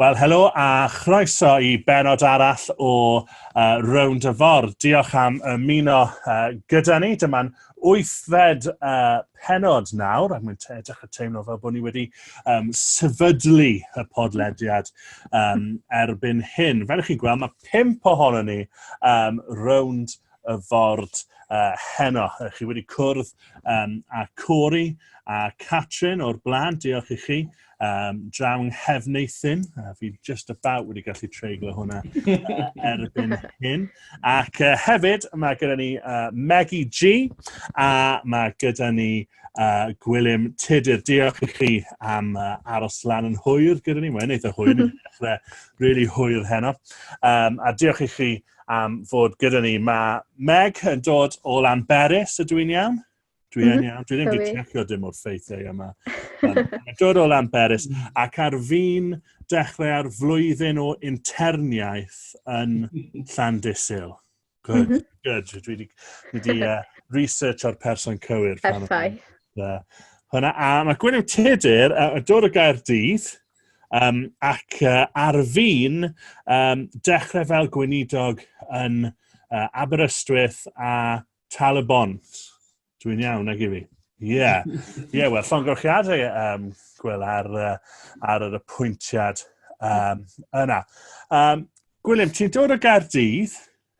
Wel, helo a chroeso i benod arall o uh, Round y Ford. Diolch am ymuno uh, gyda ni. Dyma'n wythfed uh, penod nawr, ac mae'n edrych y teimlo fel bod ni wedi um, sefydlu y podlediad um, erbyn hyn. Fel ych chi'n gweld, mae pimp ohono ni um, Round y Ford uh, heno. Chi wedi cwrdd um, a Cori a Catrin o'r blaen, diolch i chi. Um, draw yng Nghefneithyn, uh, fi just about wedi gallu treiglo hwnna uh, erbyn hyn. Ac uh, hefyd, mae gyda ni uh, Maggie G, a mae gyda ni uh, Gwilym Tudur. Diolch i chi am uh, aros lan yn hwyr gyda ni. Mae'n eitha hwyr, ni'n dechrau really hwyr heno. Um, a diolch i chi am fod gyda ni. Mae Meg yn dod o Lanberis, ydw i'n iawn? Dwi yn mhm. iawn. Dwi ddim wedi checio dim o'r ffeithiau yma. Mae'n dod o Lamperis. Mm. Ac ar fi'n dechrau ar flwyddyn o interniaeth yn Llandysil. Good, mm -hmm. good. Dwi wedi, wedi uh, research o'r person cywir. Perffaith. Uh, hwna, a mae Gwyneth Tudur uh, yn dod o gair dydd, um, ac uh, ar fi'n um, dechrau fel gweinidog yn uh, Aberystwyth a Tal y Bont. Dwi'n iawn, nag i fi. Ie, yeah. yeah, wel, llongyfrchiadau um, Gwyl ar, uh, ar yr apwyntiad um, yna. Um, Gwilym, ti'n dod o Gaerdydd,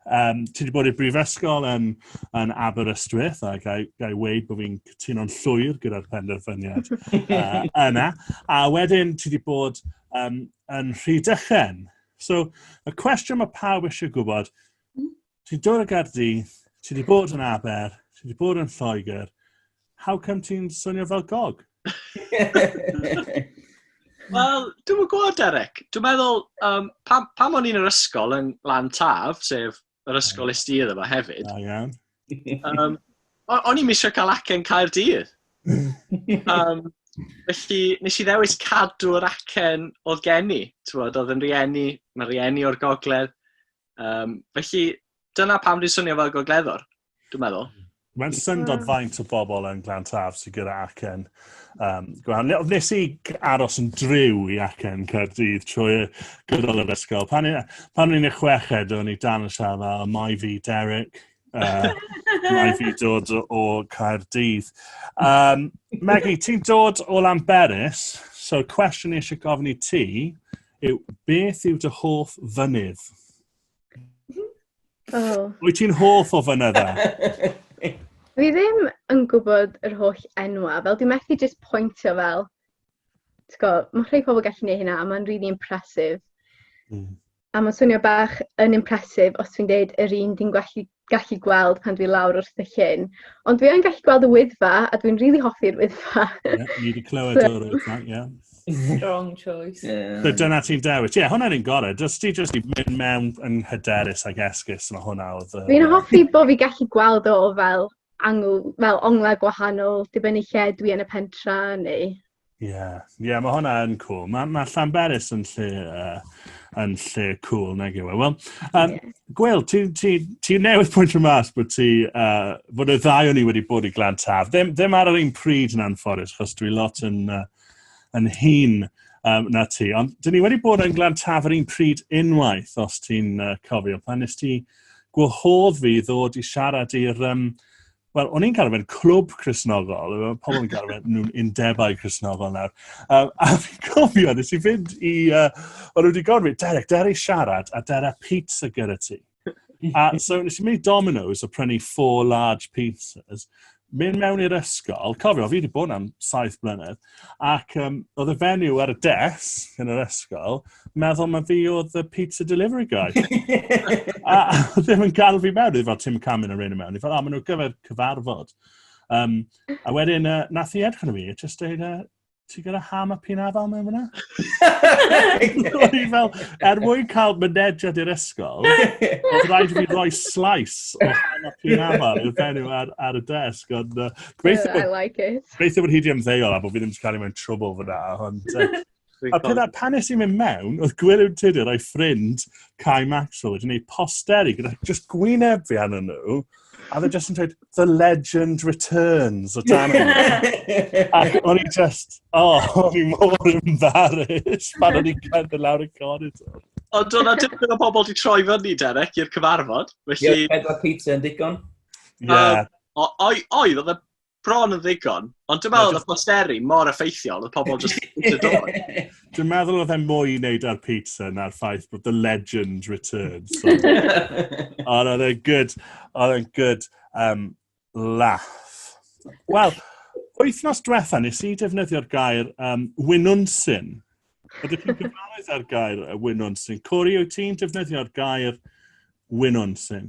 um, ti wedi bod i'r brifysgol yn, yn Aberystwyth, a gai, gai weid bod fi'n cytuno'n llwyr gyda'r penderfyniad uh, yna. A wedyn ti wedi bod um, yn Rhydychen. So, y cwestiwn mae pawb eisiau gwybod, Ti'n dod o Gaerdydd, ti wedi bod yn Aber, ti wedi bod yn Lloegr, how come ti'n swnio fel gog? Wel, dwi'n yn gwybod, Derek. Dwi'n meddwl, um, pam, pam o'n i'n yr ysgol yn Lan Taf, sef yr ysgol is di iddo fo hefyd. Da iawn. Um, o'n i'n misio cael acen cael dydd. Um, felly, nes i ddewis cadw'r acen oedd gen i. Oedd yn rieni, mae rieni o'r gogledd. Um, felly, dyna pam dwi'n swnio fel gogleddwr, dwi'n meddwl. Mae'n syndod mm. faint o bobl yn Glan Taf sy'n gyda acen. Um, nes i aros yn driw i acen Caerdydd trwy gydol yr ysgol. Pan o'n i'n y chweched, o'n i dan y siarad fel, mae fi Derek, uh, mae fi dod o Caerdydd. Um, Maggie, ti'n dod o Lamberis, so cwestiwn i eisiau gofyn i ti, yw, beth yw dy hoff fynydd? Oh. Wyt ti'n hoff o fynydda? Fi ddim yn gwybod yr holl enwa, fel dwi'n methu jyst pwyntio fel, mae rhai pobl gallu gwneud hynna, a mae'n really impressive. Mm. A mae'n swnio bach yn impressive os dwi'n deud yr un dwi'n gallu gallu gweld pan dwi lawr wrth y llyn. Ond dwi yn gallu gweld y wyddfa, a dwi'n rili really hoffi'r wyddfa. yeah, ni wedi clywed so... o'r wyddfa, ie. Yeah. Strong choice. Yeah. So dyna ti'n dewis. Ie, yeah, hwnna'n un gorau. Just ti just i mynd mewn yn hyderus ag esgus, mae hwnna oedd... Uh... Fi'n hoffi bod fi gallu gweld o fel angl, fel onglau gwahanol, dibynnu lle dwi yn y pentra neu Ie, yeah. yeah, mae hwnna yn cool. Mae ma Llanberis yn lle, uh, yn lle cool, nag yw e. Wel, um, yeah. Gwyl, ti, ti, ti newydd pwynt o mas bod ti, uh, bod y ddau o'n i wedi bod i glan taf. Ddim, ddim ar yr un pryd yn anffodus, chos dwi lot yn, uh, yn hun um, na ti. Ond dyn ni wedi bod yn glan taf ar un pryd unwaith, os ti'n uh, cofio. Pan nes ti gwahodd fi ddod i siarad i'r um, Wel, o'n i'n cael fe'n clwb Cresnogol, mae pobl yn cael fe'n nhw'n undebau Cresnogol nawr. Um, a fi'n cofio, nes i fynd i... Uh, o'n nhw wedi gofyn fi, Derek, der i siarad, a der a pizza gyda ti. A so nes i mynd i Domino's a prynu four large pizzas, mynd mewn i'r ysgol, cofio, fi wedi bod am saith blynedd, Ac um, oedd y fenyw ar y des yn yr ysgol, meddwl mae fi oedd y pizza delivery guy. a, a ddim yn cael fi mewn, oedd fel Tim Camin a rhain mewn. Oedd fel, o, maen nhw'n gyfer cyfarfod. Um, a wedyn, uh, nath i edrych yn y fi, just dweud, uh, ti gyda ham a pin afal mewn fyna? O'n i fel, er mwyn cael mynediad i'r ysgol, oedd rhaid i fi roi slice o ham a pin afal i'r fenyw ar, ar y desg. Ond, uh, gobeithio, I like it. Gobeithio bod hi wedi ymddeol a bod fi ddim wedi cael ei mewn trwbl fyna. Ond, a pydda, pan nes i'n mynd mewn, oedd Gwilym Tudor o'i ffrind Kai Maxwell wedi gwneud posteri gyda just gwyneb fi anna nhw. A dde just yn dweud, the legend returns o dan Ac o'n i just, oh, o'n i mor embarrassed pan o'n i'n cael dy lawr y corridor. Ond o'n dim yn o bobl di troi fyny, Derek, i'r cyfarfod. Felly... Ie, pedwar pizza yn digon. Ie. Yeah. Um, oedd, oedd, oedd bron yn ddigon, ond dwi'n meddwl oedd posteri mor effeithiol, oedd pobl just yn dod. Dwi'n meddwl oedd e mwy i wneud ar pizza na'r ffaith bod the legend returns. So. ond oedd e'n good, oedd e'n good um, laugh. Wel, wythnos diwetha nes i defnyddio'r gair um, wynunsyn. Ydych chi'n gyfarwydd â'r gair wynunsyn? Cori, wyt ti'n defnyddio'r gair wynunsyn?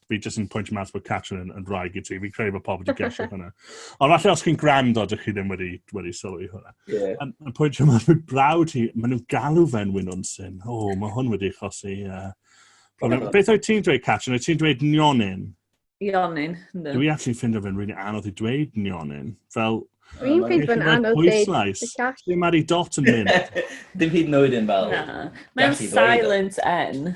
fi jyst yn pwynt mas bod Catrin yn, yn rhaeg i ti. Fi'n credu bod pobl wedi gesio hwnna. Ond falle os chi'n grand o, dych chi ddim wedi, wedi sylwi hwnna. Yeah. Yn, yn pwynt yma, mae braw ti, maen nhw'n galw fe'n wyn o'n syn. O, oh, mae hwn wedi chosi. Uh, problem. Yeah. Beth oedd ti'n dweud, Catrin? Oedd ti'n dweud nionyn? Nionyn, ynddo. Dwi actually ffindo fe'n rili anodd i dweud nionyn. Fel, Dwi'n ffyd fwy'n anodd dweud. Dim ar ei dot yn mynd. Dim hyd yn oed yn fel... Mae'n silent N.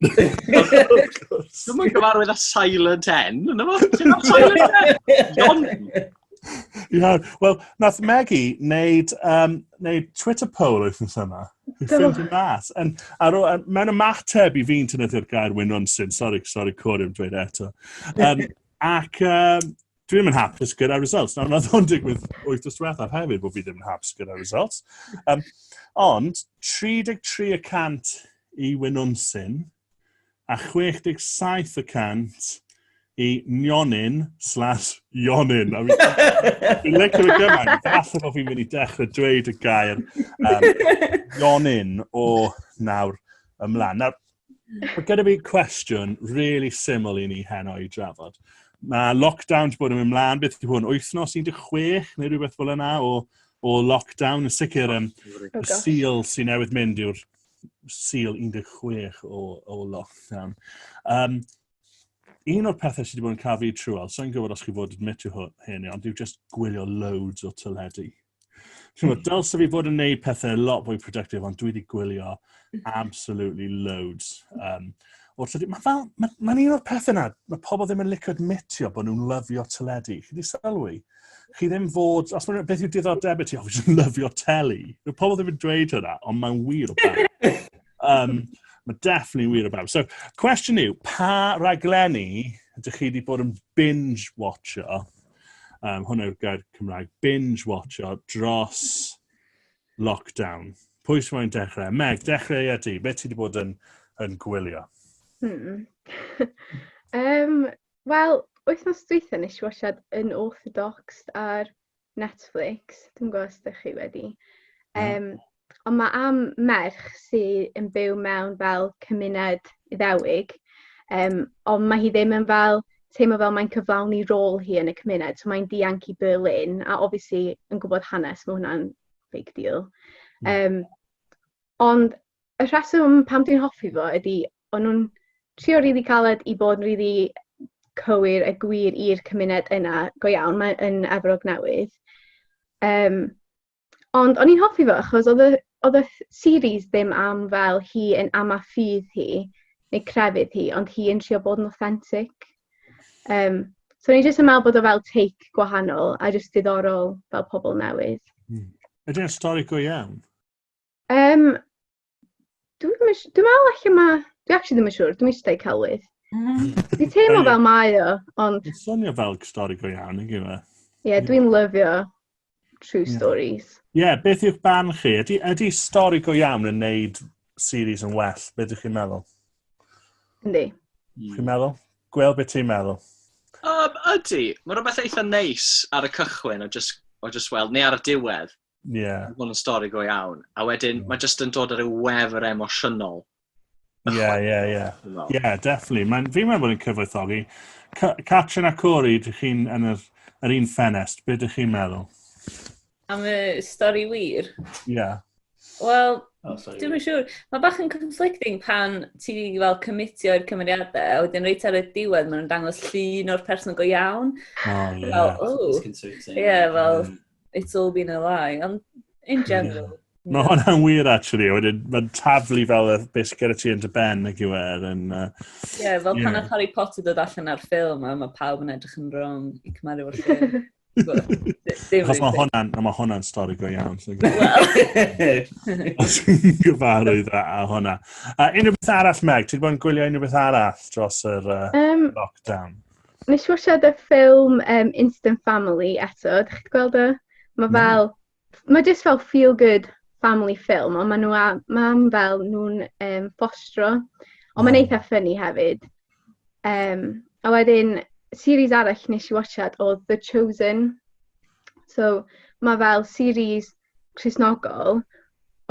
Dwi'n mwyn gyfarwydd â Silent N, yna fo? Ti'n fawr Silent N? John? Ia, wel, nath Maggie wneud, um, wneud Twitter poll wythnos yma. Ffilm yn mas. Yn, ar, ar, mewn ymateb i fi'n tynnu'r gair wyn ronsyn. Sorry, sorry, Corey, yn dweud eto. Um, ac um, dwi ddim yn hapus gyda results. Nawr, wnaeth o'n digwydd oeth o'r diwethaf hefyd bod fi ddim yn hapus gyda results. Um, ond, 33 y cant i Wynwnsyn a 67 y cant i Nionyn slash Ionyn. Fi'n lyco fe gymaint, falle bod fi'n mynd i dechrau dweud y gair um, Ionyn o nawr ymlaen. Nawr, Mae gyda fi cwestiwn really syml i ni heno i drafod. Mae lockdown wedi bod yn mynd mlaen, beth yw hwn, wythnos 16 neu rhywbeth fel yna o, o lockdown. Yn sicr, um, y seal sy'n newydd mynd yw'r seal 16 o, o lockdown. Um, un o'r pethau sydd wedi bod yn cael fi trwyol, so'n gwybod os chi fod yn admit i hyn, ond yw just gwylio loads o teledu. Chymod, hmm. dylse fi bod yn neud pethau lot fwy productive, ond dwi wedi gwylio hmm. absolutely loads. Um, o'r tydi, mae fel, mae'n ma, un o'r pethau yna, mae pobl ddim yn licio admitio bod nhw'n lyfio teledu. Chi wedi sylwi? Chi ddim fod, os mae'n beth yw diddordeb i ti, o, fi ddim lyfio teli. Mae pobl ddim yn dweud hynna, ond mae'n wir o bawb. um, mae definitely wir o bawb. So, cwestiwn yw, pa raglenni ydych chi wedi bod yn binge-watcho Um, hwn yw'r gair Cymraeg. Binge watcho dros lockdown. Pwy sy'n mwyn dechrau? Meg, dechrau a ti. Be ti wedi bod yn, yn gwylio? Hmm. um, Wel, wythnos dweitha nes i wasiad yn Orthodox ar Netflix. Dwi'n gwybod os ydych chi wedi. Um, ond mae am merch sydd yn byw mewn fel cymuned iddewig, um, ond mae hi ddim yn fel teimlo fel mae'n cyflawni rôl hi yn y cymuned, so mae'n dianc i Berlin, a obviously yn gwybod hanes, mae hwnna'n big deal. Um, ond y rheswm pam dwi'n hoffi fo ydy, o'n nhw'n trio rili really caled i bod yn rili really cywir a gwir i'r cymuned yna, go iawn, mae'n yn Efrog Newydd. Um, Ond o'n i'n hoffi fo achos oedd y oedd y series ddim am fel hi yn am a ffydd hi neu crefydd hi, ond hi yn trio bod yn authentic. Um, so ni'n jyst yn meddwl bod o fel take gwahanol a jyst diddorol fel pobl newydd. Mm. Ydy'n stori go iawn? Um, Dwi'n ddim yn siŵr. Dwi'n meddwl allan ma... Dwi actually ddim yn siŵr. Dwi'n eisiau dweud celwydd. Mm. Dwi'n teimlo Ie. fel mae o, ond... Mae'n swnio fel stori go iawn, yn gyfe? Ie, yeah, dwi'n lyfio true Ie. stories. Ie, yeah, beth yw'ch barn chi? Ydy, ydy stori go iawn yn neud series yn well? Be ydych chi'n meddwl? Yndi. Mm. Chi'n meddwl? Gwel, beth ti'n meddwl? Um, ydy, mae rhywbeth eitha neis ar y cychwyn o just, o just weld, neu ar y diwedd. Yeah. Mae hwn yn stori go iawn. A wedyn, yeah. mae jyst yn dod ar ryw wefr emosiynol. Ie, ie, ie. Ie, definitely. Mae'n fi'n meddwl bod yn cyfoethogi. Catrin a Corey, dych chi'n yn yr, yr un ffenest. Be dych chi'n meddwl? Am y stori wir? Ie. Yeah. Wel, oh, dwi'n siŵr. Mae bach yn conflicting pan ti fel cymitio i'r cymeriadau, a wedyn reit ar y diwedd maen nhw'n dangos llun o'r person go iawn. Oh, ie. Yeah. Fel, oh. Ie, yeah, fel, mm. It's all been a lie, ond in general. Yeah. Mae hwnna'n wir, actually. Wedyn, mae'n taflu fel y beth sy'n gyda ti yn dy ben, ac yw e. Ie, yeah, fel pan yeah. Harry Potter dod allan ar ffilm, a mae pawb yn edrych yn wrong i cymaru o'r ffilm. Achos mae hwnna'n ma hwnna stori go iawn. Os yn gyfarwydd a, a hwnna. A unrhyw beth arall, Meg? Ti'n gwybod yn gwylio unrhyw beth arall dros yr uh, um, lockdown? Nes i wasiad y ffilm um, Instant Family eto, ydych chi'n gweld o? Mae hmm. fel, mm. mae jyst fel feel good family film, ond maen nhw a mam fel nhw'n um, fostro, ond mae'n eitha ffynnu hefyd. Um, a wedyn, series arall nes i watchad o The Chosen. So, mae fel series Cresnogol,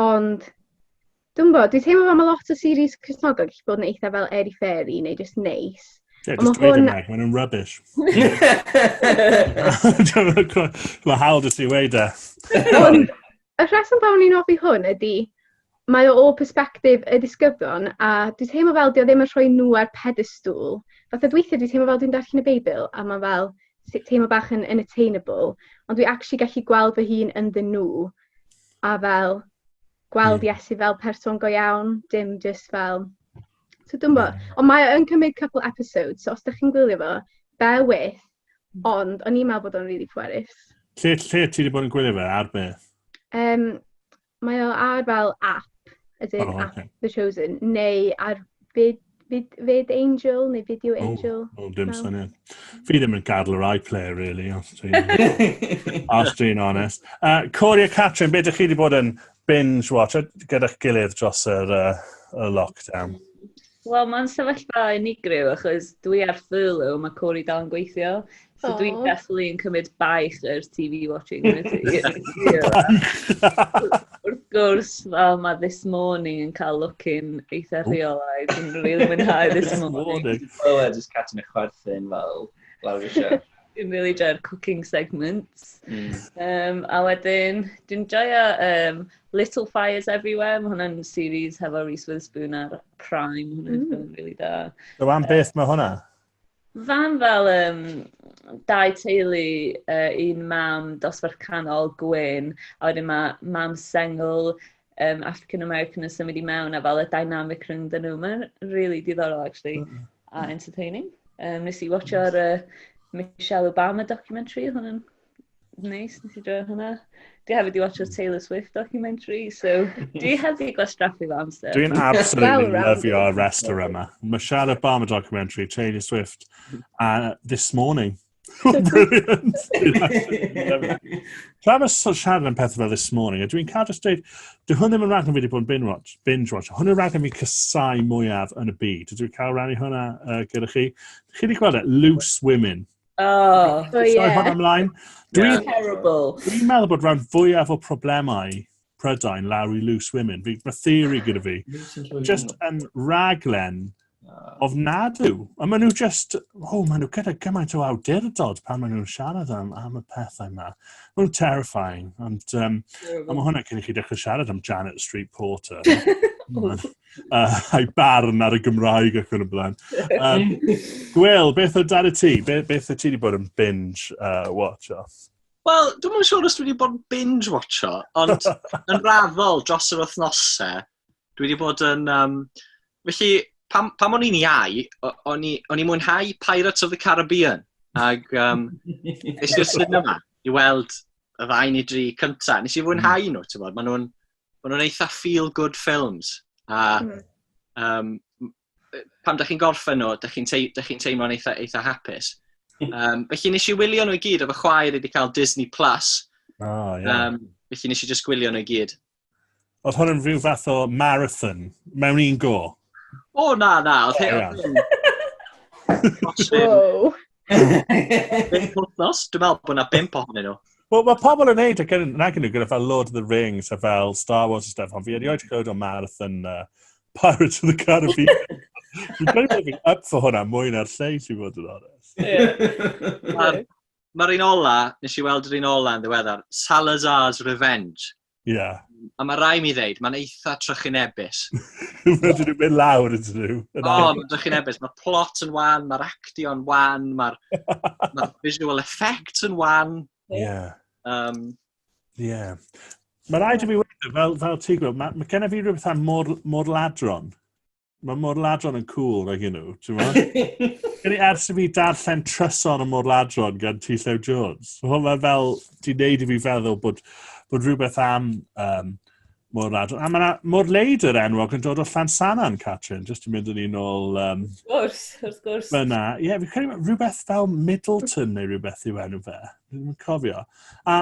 ond Dwi'n gwybod, dwi'n teimlo fel mae lot o series Cristnogol gallu bod yn eitha fel airy fairy neu just neis. Yeah, just dweud hwn... Maen nhw'n rubbish. Mae hawl dys i weid e. Ond y rheswm pam o'n i'n offi hwn ydy, mae o o perspektif y disgyblion, a dwi'n teimlo fel dio ddim yn rhoi nhw ar pedestŵl. Fatha dweithiau dwi'n teimlo fel dwi'n darllen y Beibl, a mae fel teimlo bach yn unattainable, ond dwi actually gallu gweld fy hun ynddyn nhw, a fel gweld Iesu fel person go iawn, dim jyst fel... So dwi'n bo, ond mae o'n cymryd couple episodes, so os da chi'n gwylio fo, bear with, hmm. ond o'n i'n meddwl bod o'n really pwerus. Lle, lle ti wedi bod yn gwylio fe, ar beth? Um, mae o ar fel app, as in oh, okay. app The Chosen, neu ar byd Fyd, fyd Angel neu Video Angel? O, oh, dim syniad. Fi ddim yn gadw yr iPlayer, really, os dwi'n os dwi'n honest. Uh, Corey a Catrin, beth ydych chi wedi bod yn binge watch gyda'ch gilydd dros yr, uh, y lockdown? Wel, mae'n sefyllfa unigryw, achos dwi ar furlough, mae Corey dal yn gweithio. So oh. dwi'n definitely yn cymryd baich yr TV watching Wrth gwrs, fel mae this morning yn cael looking eitha rheolaidd. Dwi'n really mwynhau this morning. Well, I just catching a chwerthin fel lawr eisiau. Dwi'n really joio'r cooking segments. Mm. Um, a wedyn, dwi'n joio um, Little Fires Everywhere. Mae hwnna'n series hefo Reese Witherspoon ar Prime. Hwna'n mm. really da. So am beth mae hwnna? Fam fel um, dau teulu, uh, un mam dosbarth canol, gwyn, a wedyn mae mam sengl, um, African American yn symud i mewn, a fel y dynamic rhwng dyn nhw. Mae'n really diddorol, actually, mm. a entertaining. Um, nes i watcho'r uh, Michelle Obama documentary, hwn yn Neis, nes i droi hwnna. Dwi hefyd i watch a Taylor Swift documentary, so dwi hefyd i gwastraffu fo amser. Dwi'n absolutely love your wrestler yma. Mae Michelle Obama documentary, Taylor Swift, uh, this morning. Brilliant. Tra mae siarad yn pethau fel this morning, a dwi'n cael just dweud, dwi hwn ddim yn rhaglen fi wedi bod yn binge watch, binge watch. Hwn yn rhaglen fi cysau mwyaf yn y byd. Dwi'n cael rannu hwnna uh, gyda chi. Chi wedi gweld e? Loose Women. Oh, so ie. Soi hwn ymlaen. Dwi'n yeah. terrible. Dwi'n meddwl bod rhan fwyaf o problemau Prydain lawr i loose women. Fi, mae theori gyda fi. Just yn raglen of nadw. A maen nhw just, oh, maen nhw gyda gymaint o awdurdod pan maen nhw'n siarad am, am y pethau yma. Maen nhw'n terrifying, ond um, a mae hwnna cyn i chi dechrau siarad am Janet Street Porter. uh, a'i barn ar y Gymraeg ac yn y blaen. Um, Gwyl, beth o dan y ti? Be, beth o ti wedi bod yn binge uh, watch off? Wel, dwi'n mwyn siŵr os dwi wedi bod yn binge watch o, ond yn raddol dros yr wythnosau, dwi wedi bod yn... Um, felly, pam, pam o'n i'n iau, o'n i'n mwynhau Pirates of the Caribbean. Ac um, nes i'r cinema i weld y ddau ni dri cyntaf. Nes i fwynhau hmm. nhw, ti'n bod, maen nhw'n maen nhw'n eitha feel-good films. A mm. um, pam da chi'n gorffen nhw, da chi'n tei, chi teimlo'n eitha, eitha hapus. Um, felly nes i wylio nhw i gyd, efo chwaer wedi cael Disney Plus. Oh, yeah. um, felly nes i just gwylio nhw i gyd. Oedd hwn yn rhyw fath o marathon, mewn un go? O, na, na. Oedd hyn... Wow. Bimp wythnos, dwi'n meddwl bod yna bimp ohonyn nhw. Wel, mae pobl yn neud ac yn nag nhw gyda fel Lord of the Rings a fel Star Wars a stuff, ond fi erioed wedi clywed o marathon uh, Pirates of the Caribbean. Fi'n credu bod fi'n up for hwnna mwy na'r lleill i fod yn honest. Mae'r un ola, nes i weld yr un ola yn ddiweddar, Salazar's Revenge. Ie. Yeah. A mae rai mi ddeud, mae'n eitha trychinebus. Mae dyn nhw'n mynd lawr yn dyn nhw. O, mae'n trychinebus. Mae'r plot yn wan, mae'r actio'n wan, mae'r ma visual effects yn wan. Ie. Yeah. Um, yeah. Mae rhaid i mi wedi, fel, fel ti'n gwybod, mae, mae gennym fi rhywbeth am mor, mor ladron. Mae morladron yn cool rhaid gen nhw, ti'n meddwl? Ers i fi darllen trysor y morladron gan T. Llew Jones, hwnna fel, ti'n neud i fi feddwl bod, bod rhywbeth am um, morladron. A mae yna morleid yr enwog yn dod o Llansanan, Catrin, jyst yn mynd yn un ôl... Um, wrth gwrs, wrth gwrs. Fyna, ie, yeah, fi'n credu rhywbeth fel Middleton neu rhywbeth yw enw fe. Dwi'n cofio. A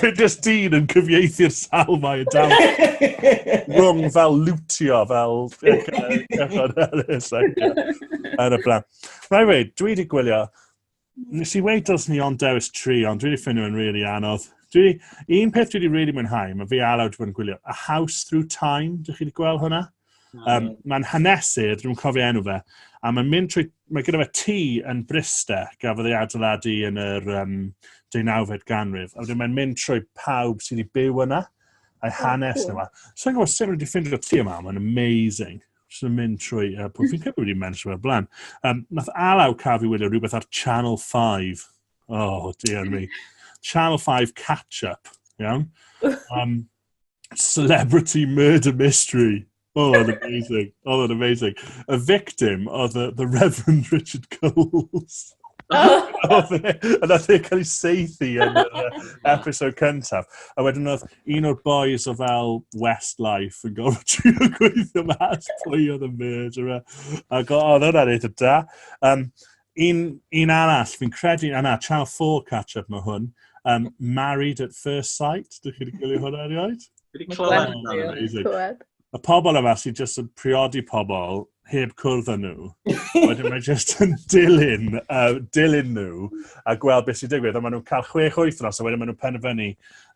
Fe dys dyn yn cyfieithu'r sal mae yn dal. Rwng fel lwtio, fel cychod erys. Yn y blaen. Rhaid wei, dwi wedi gwylio. Nes i wei dylsyn ni ond dewis tri, ond dwi wedi ffynnu yn really anodd. Dwi, un peth dwi wedi really mwynhau, mae fi a Aled wedi bod yn gwylio. A House Through Time, dych chi wedi gweld hwnna? Um, mae'n hanesydd, dwi'n cofio enw fe, a mae'n mynd trwy, mae gyda fe tŷ yn Bryste, gafodd ei adeiladu yn yr um, 19fed ganrif, a wedyn mae'n mynd trwy pawb sydd wedi byw yna, a'i hanes yma. So i'n gwybod sut wedi ffindio tŷ yma, mae'n amazing. Just yn mynd trwy, uh, pwy fi'n credu wedi mynd trwy blaen. Um, nath Alaw cael fi wylio rhywbeth ar Channel 5. Oh, dear me. Channel 5 catch-up, iawn? Um, Celebrity Murder Mystery. Oh, oedd yn amazing. Oh, oedd yn amazing. Y victim oedd the, the Reverend Richard Coles. Yn oedd e'n cael ei seithi yn yr episode cyntaf. A wedyn oedd un o'r boys o fel Westlife yn gofod trio gweithio mas pwy oedd y murderer. Ac oedd hwnna'n eitha da. Um, Un, un arall, fi'n credu, a na, Channel 4 catch-up mae hwn. Um, Married at First Sight, dych chi wedi gwylio hwnna erioed? Wedi clywed. Y pobl yma sy'n just yn priodi pobl heb cwrdd â nhw. Wedyn mae just yn dilyn, uh, dilyn nhw a gweld beth sy'n digwydd. A maen nhw'n cael chwech oeth nos a wedyn maen nhw'n penderfynu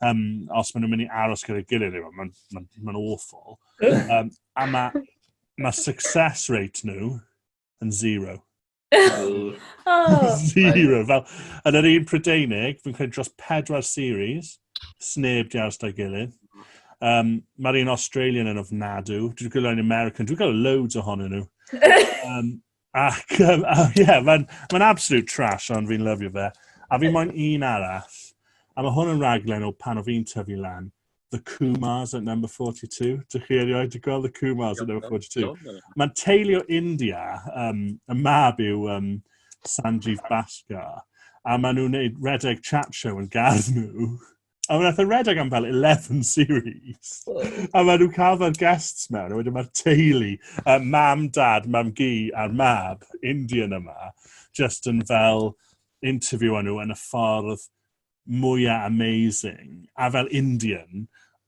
um, os maen nhw'n mynd i aros gyda'i gilydd. Mae'n ma, ma awful. Um, a mae ma success rate nhw yn zero. zero. Fel, yn yr un Prydeinig, fi'n credu dros pedwar series, sneb di aros da gilydd. Um, Mae'r un Australian yn ofnadw. Dwi'n gwylio yn American. Dwi'n gwylio loads ohonyn nhw. um, ac, um, uh, yeah, mae'n ma absolute trash, ond fi'n lyfio fe. A fi moyn un arall. A mae hwn yn raglen o pan o fi'n tyfu lan. The Kumars at number 42. Dych chi erioed wedi gweld The Kumars at number 42? Mae'n teulu o India, um, y mab yw um, Sanjeev Bhaskar, a maen nhw'n gwneud redeg chat show yn gardd nhw. A mae'n eithaf redeg am fel 11 series. A maen nhw'n cael fel guests mewn, a wedyn mae'r teulu, uh, mam, dad, mam gi a'r mab, Indian yma, just yn fel interview nhw yn y ffordd mwya amazing, a fel Indian,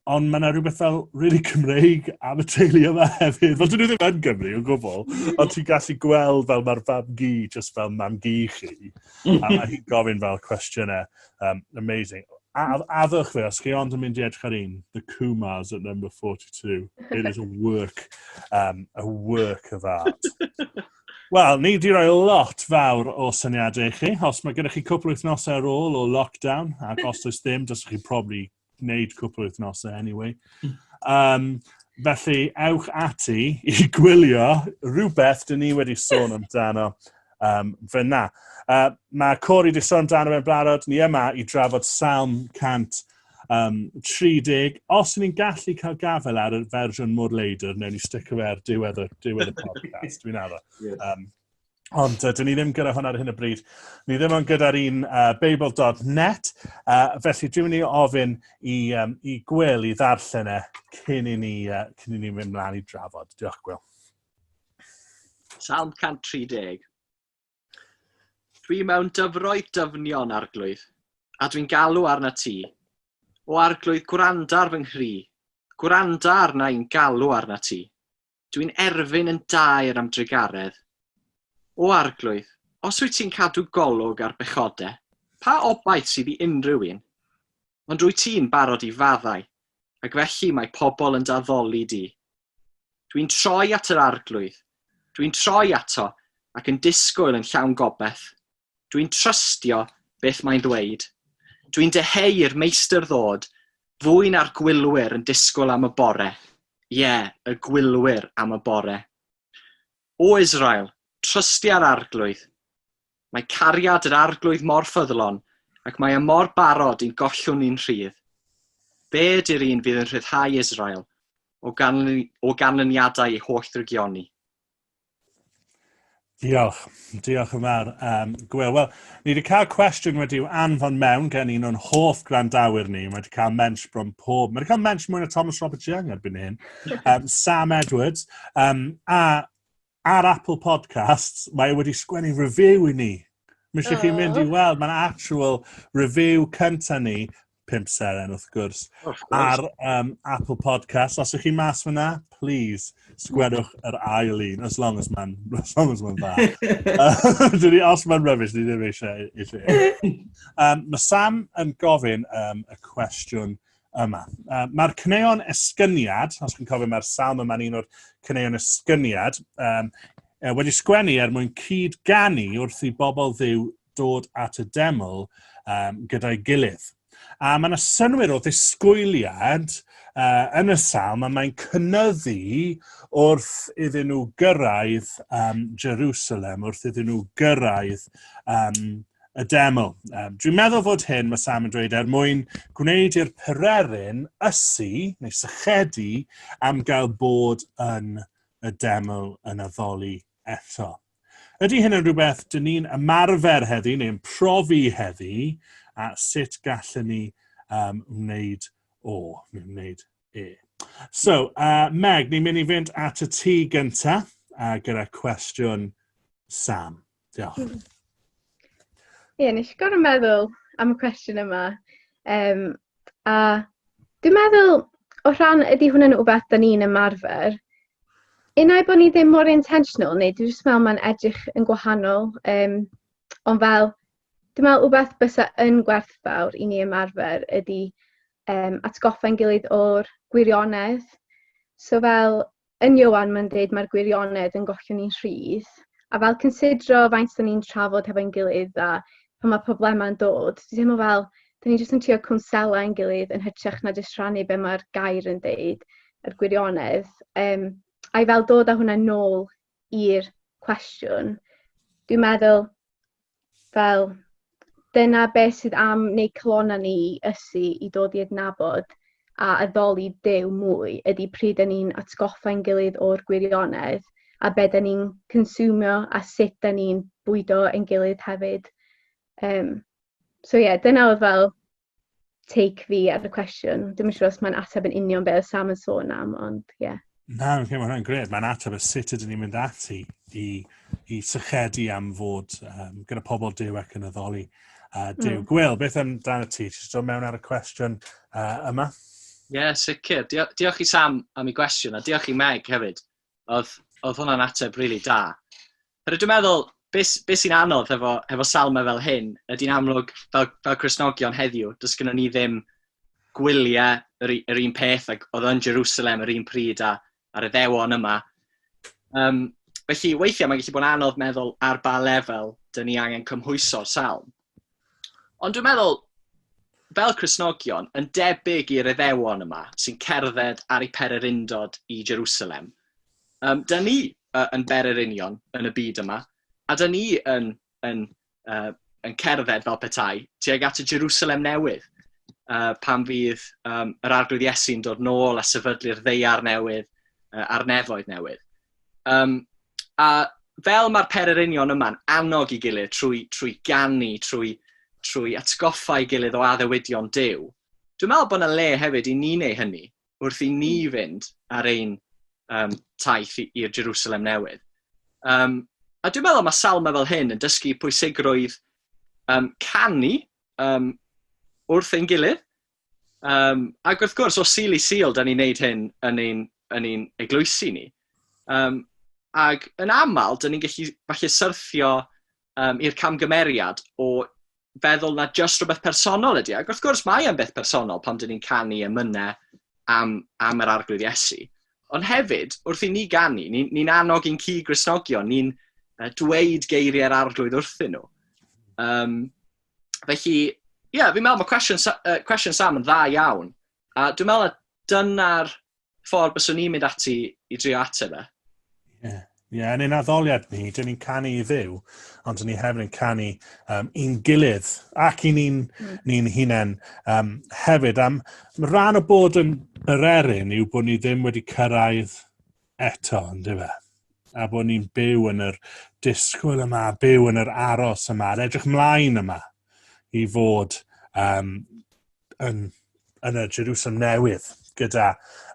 ond mae yna rhywbeth fel really Cymreig am y teulu yma hefyd. Fel dyn nhw ddim yn Gymru o gwbl, ond ti'n gallu gweld fel mae'r fam gi, just fel mam gi chi. A mae hi'n gofyn fel cwestiynau. Um, amazing. A, addwch fe, os chi ond yn mynd i edrych ar un, The Kumars at number 42. It is a work, um, a work of art. Wel, ni wedi rhoi lot fawr o syniadau i chi. Os mae gennych chi cwpl wythnosau ar ôl o lockdown, ac os oes ddim, dys chi probably wneud cwpl wythnosau anyway. Um, felly, ewch ati i gwylio rhywbeth dyn ni wedi sôn amdano um, fyna. Uh, mae Cori wedi sôn amdano fe'n blarod, ni yma i drafod Salm 100 Um, 30, os ni'n gallu cael gafel ar y fersiwn mor leidr, newn ni stick away ar diwedd y, diwedd y podcast, dwi'n arfer. Yes. Um, Ond uh, dyn ni ddim gyda hwn ar hyn o bryd. Ni ddim ond gyda'r un uh, Babel.net. Uh, felly dwi'n mynd i ofyn i, um, i Gwyl i ddarllen e cyn i ni, uh, cyn i ni mynd mlaen i drafod. Diolch Gwyl. Salm 130. Dwi mewn dyfroedd dyfnion, Arglwydd, a dwi'n galw arna ti. O Arglwydd, gwranda ar fy nghri, gwranda arna i'n galw arna ti. Dwi'n erfyn yn daer am drugaredd. O Arglwydd, os wyt ti'n cadw golwg ar bechode, pa obaith sydd i unrhyw un? Ond rwy ti'n barod i faddau, ac felly mae pobl yn daddoli di. Dwi'n troi at yr Arglwydd. Dwi'n troi ato ac yn disgwyl yn llawn gobaith. Dwi'n trystio beth mae'n dweud. Dwi'n deheu i'r meistr ddod, fwy na'r gwylwyr yn disgwyl am y bore. Ie, yeah, y gwylwyr am y bore. O Israel, trystia'r Arglwydd. Mae cariad yr Arglwydd mor ffyddlon, ac mae e mor barod i'n gollwng ni'n rhydd. Fe ydy'r un fydd yn rhyddhau Israel o, ganly, o ganlyniadau ei holl drygioni. Diolch. Diolch yn fawr, um, Gwyl. Wel, ni wedi cael cwestiwn wedi i'w anfon mewn gen un o'n hoff gwrandawyr ni. Mae wedi cael mensh bron pob. Mae wedi cael mensh mwy na Thomas Robert Young erbyn hyn. Um, Sam Edwards. Um, a ar Apple Podcasts, mae e wedi sgwennu review i ni. Mae eisiau chi mynd i weld, mae'n actual review cyntaf ni, pimp seren wrth gwrs, ar um, Apple Podcasts. Os ych chi mas fyna, please, sgwennwch yr ail un, as long as mae'n as long as mae'n dda. Dwi os mae'n rubbish, ni ddim eisiau. eisiau. um, mae Sam yn gofyn um, y cwestiwn yma. Uh, mae'r cyneuon esgyniad, os chi'n cofio mae'r salm yma'n un o'r cyneuon esgyniad, um, uh, wedi sgwennu er mwyn cyd ganu wrth i bobl ddiw dod at y deml um, gyda'i gilydd. A mae yna synwyr o ddisgwyliad uh, yn y salm a mae'n cynnyddu wrth iddyn nhw gyrraedd um, Jerusalem, wrth iddyn nhw gyrraedd um, y deml. Um, dwi'n meddwl fod hyn, mae Sam yn dweud, er mwyn gwneud i'r pererin ysu neu sychedu am gael bod yn y deml yn addoli eto. Ydy hyn yn rhywbeth dyn ni'n ymarfer heddi neu'n profi heddi a sut gallwn ni um, wneud o, neu'n wneud e. So, uh, Meg, ni'n mynd i fynd at y tŷ gyntaf uh, gyda cwestiwn Sam. Diolch. Ie, yeah, nes i gorau meddwl am y cwestiwn yma. Um, a dwi'n meddwl, o rhan, ydy hwnna'n rhywbeth da ni'n ymarfer. Unau bod ni ddim mor intentional, neu dwi'n just meddwl mae'n edrych yn gwahanol. Um, ond fel, dwi'n meddwl rhywbeth bysa yn gwerthfawr i ni ymarfer ydy um, atgoffa'n gilydd o'r gwirionedd. So fel, yn Ioan mae'n dweud mae'r gwirionedd yn gollio ni'n rhydd, a fel cynsidro faint da ni'n trafod hefo'n gilydd a pan mae problemau'n dod, dwi'n teimlo fel, da ni jyst yn trio cwnsela ein gilydd yn hytrach na jyst rhannu be mae'r gair yn deud, yr gwirionedd. Um, a'i fel dod â hwnna nôl i'r cwestiwn, dwi'n meddwl Fel, dyna beth sydd am wneud calonnau ni i ysu, i dod i adnabod a addoli Duw mwy, ydy pryd da ni'n atgoffa ein gilydd o'r gwirionedd, a be da ni'n consumio a sut da ni'n bwydo ein gilydd hefyd. Um, so ie, yeah, dyna oedd fel take fi ar y cwestiwn. Dim yn siŵr os mae'n ateb yn union beth oedd Sam yn sôn am, ond ie. Yeah. Na, okay, mae hwnna'n gred. Mae'n ateb y sut ydyn ni'n mynd ati i, i sychedu am fod um, gyda pobl dew ac yn addoli uh, dew. Mm. Gwyl, beth am dan y ti? Ti'n dod mewn ar y cwestiwn uh, yma? Ie, yeah, sicr. Diolch, diolch i Sam am ei gwestiwn, a diolch i Meg hefyd. Oedd, oedd hwnna'n ateb rili really da. Rydw dwi'n meddwl, beth be sy'n anodd hefo, hefo salmau fel hyn, ydy'n amlwg fel, fel Cresnogion heddiw, does gynnu ni ddim gwyliau yr, yr un peth ac oedd yn Jerusalem yr un pryd a, ar y ddewon yma. Um, felly, weithiau mae'n gallu bod yn anodd meddwl ar ba lefel dyn ni angen cymhwyso'r salm. Ond dwi'n meddwl, fel Cristnogion, yn debyg i'r Iddewon yma sy'n cerdded ar eu pererindod i Jerusalem, um, da ni uh, yn bererinion yn y byd yma, a da ni yn, yn, uh, yn cerdded fel petai tuag at y Jerusalem newydd, uh, pan fydd um, yr arglwydd Iesu'n dod nôl a sefydlu'r ddeiar newydd uh, a'r nefoedd newydd. Um, a fel mae'r pererinion yma'n annog i gilydd trwy, trwy gannu, trwy, trwy atgoffa i gilydd o addewidion dew, dwi'n meddwl bod yna le hefyd i ni neu hynny wrth i ni hmm. fynd ar ein um, taith i'r Jerusalem newydd. Um, a dwi'n meddwl mae salma fel hyn yn dysgu pwysigrwydd um, canu um, wrth ein gilydd, Um, ac wrth gwrs, o sil i sil, da ni'n neud hyn yn ein, yn ein eglwysi ni. Um, ac yn aml, da ni'n gallu falle syrthio um, i'r camgymeriad o feddwl na just rhywbeth personol ydy. E. Ac wrth gwrs, mae e'n beth personol pan dyn ni'n canu emynau am, am yr arglwydd Iesu. Ond hefyd, wrth i ni ganu, ni'n ni, ni annog i'n cu grisnogion, ni'n uh, dweud geiriau'r arglwydd wrthyn nhw. Um, felly, ie, yeah, fi'n meddwl mae cwestiwn, uh, cwestiwn Sam yn dda iawn. A dwi'n meddwl na dyna'r ffordd byswn i'n mynd ati i drio ateb e. Ie, yeah. yeah, yn ein addoliad ni, dyn ni'n canu i ddiw, ond dyn ni hefyd yn canu um, i'n gilydd ac i ni'n mm. ni hunain um, hefyd. Am rhan o bod yn yr erin yw bod ni ddim wedi cyrraedd eto, yndyfe? A bod ni'n byw yn yr disgwyl yma, byw yn yr aros yma, a'r edrych mlaen yma i fod um, yn, yn y Jerusalem newydd gyda,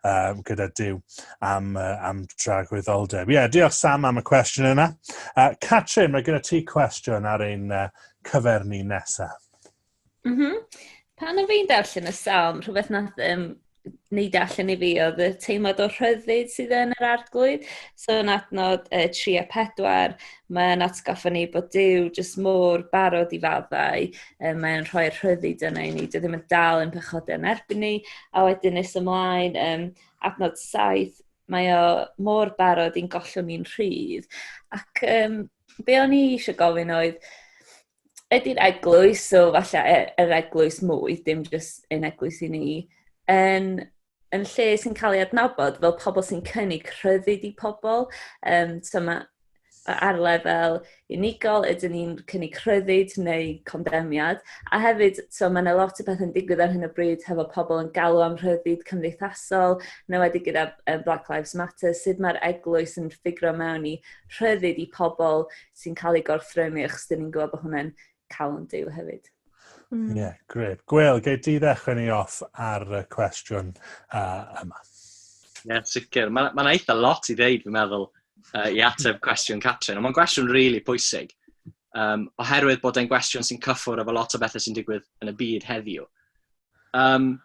um, gyda Dyw am, uh, am dragwyddoldeb. Ie, yeah, diolch Sam am y cwestiwn yna. Uh, Catrin, mae gyda ti cwestiwn ar ein uh, cyfer ni nesaf. Mhm. Pan o'n fi'n darllen y salm, rhywbeth nath um, neud e allan i fi oedd y teimlad o rhyddid sydd yn yr arglwydd. So yn adnod uh, 3 a 4, mae'n atgoffa ni bod Dyw jyst mor barod i faddau, um, mae'n rhoi rhyddid yna i ni, dydy ddim yn dal yn pechodau yn erbyn ni, a wedyn nes ymlaen, um, adnod 7, mae o mor barod i'n gollwng ni'n rhydd. Ac um, be o'n i eisiau gofyn oedd, ydy'r eglwys, so falle e, yr eglwys mwy, dim jyst yn eglwys i ni, yn, yn lle sy'n cael ei adnabod fel pobl sy'n cynnig rhyddid i pobl. Um, so mae ar lefel unigol, ydyn ni'n cynnig rhyddid neu condemiad. A hefyd, so mae yna lot o beth yn digwydd ar hyn o bryd hefo pobl yn galw am rhyddid cymdeithasol, neu wedi gyda Black Lives Matter, sut mae'r eglwys yn ffigro mewn i rhyddid i pobl sy'n cael ei gorthrymu, achos dyn ni'n gwybod bod hwnna'n cael yn deulu hefyd. Ie, mm. yeah, gred. Gwyl, gei di ddechrau ni off ar y cwestiwn uh, yma. Ie, yeah, sicr. Mae'n ma eitha lot i ddeud, fi'n meddwl, uh, i ateb cwestiwn Catrin. Ond mae'n gwestiwn rili really pwysig. Um, oherwydd bod e'n gwestiwn sy'n cyffwrdd efo lot o bethau sy'n digwydd yn y byd heddiw. Um,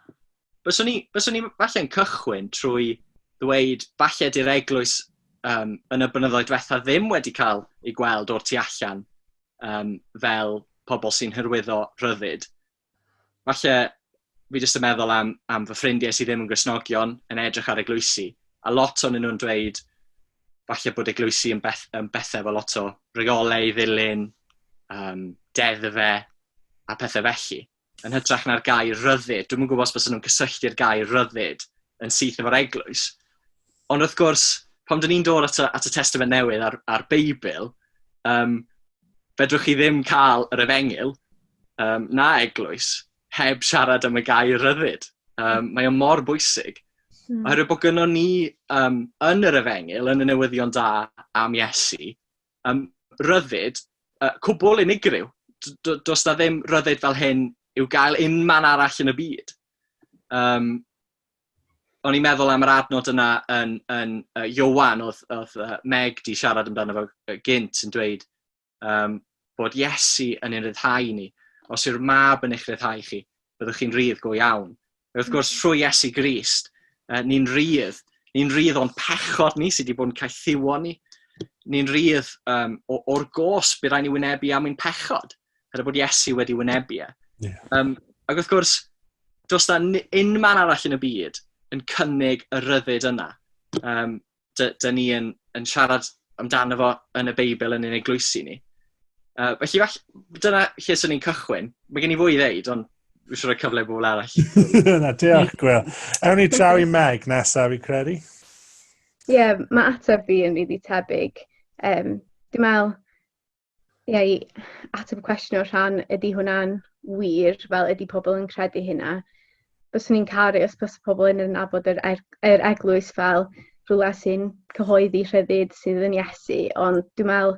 byswn i, byswn i falle'n cychwyn trwy ddweud, falle di'r eglwys um, yn y blynyddoedd diwetha ddim wedi cael ei gweld o'r tu allan um, fel pobl sy'n hyrwyddo rhyddid. Falle fi jyst yn meddwl am, am fy ffrindiau sydd ddim yn grisnogion yn edrych ar eglwysi, a lot o'n nhw'n dweud falle bod eglwysi yn, beth, yn bethau fel lot o reolau i ddilyn, um, deddfe a pethau felly. yn hytrach na'r gair rhyddid. Dwi'm yn gwybod os bysen nhw'n cysylltu'r gair rhyddid yn syth efo'r eglwys. Ond wrth gwrs, pam dyn ni'n dod at y, at y Testament Newydd a'r, ar Beibl, um, fedrwch chi ddim cael yr efengyl um, na eglwys heb siarad am y gair rhyddid. Um, mae o'n mor bwysig. Hmm. Oherwydd bod gynnwn ni um, yn yr efengyl, yn y newyddion da am Iesu, um, ryddid uh, cwbl unigryw. Does da ddim ryddid fel hyn i'w gael un man arall yn y byd. Um, o'n i'n meddwl am yr adnod yna yn, yn uh, Iowan, oedd, oedd uh, Meg di siarad amdano fo gynt yn dweud um, bod Iesu yn ein rhyddhau ni. Os yw'r mab yn eich rhyddhau chi, byddwch chi'n rhydd go iawn. A wrth gwrs, trwy Iesu Grist, ni'n rydd. Ni'n rydd o'n pechod ni sydd wedi bod yn caethiwo ni. Ni'n rydd um, o'r gos bydd rhaid ni wynebu am ein pechod, er bod Iesu wedi wynebu e. Yeah. Um, ac wrth gwrs, does da unman arall yn y byd yn cynnig y ryddid yna. Um, dy, dy ni yn, yn siarad amdano fo yn y Beibl yn ein eglwysi ni. Uh, felly, fall, dyna lle sy'n ni'n cychwyn. Mae gen i fwy i ddeud, ond fi eisiau rhoi cyfle i bobl arall. Na, diolch, Gwyl. Ewn ni draw i Meg nesaf, fi credu. Ie, yeah, mae ateb fi yn rili tebyg. Um, Dwi'n meddwl, Ie, i ateb y cwestiwn o'r rhan, ydy hwnna'n wir, fel ydy pobl yn credu hynna? Byswn i'n caru os bys pobl yn nabod yr, er, yr eglwys fel rhywle sy'n cyhoeddi rhyddid sydd yn Iesu, ond dwi'n meddwl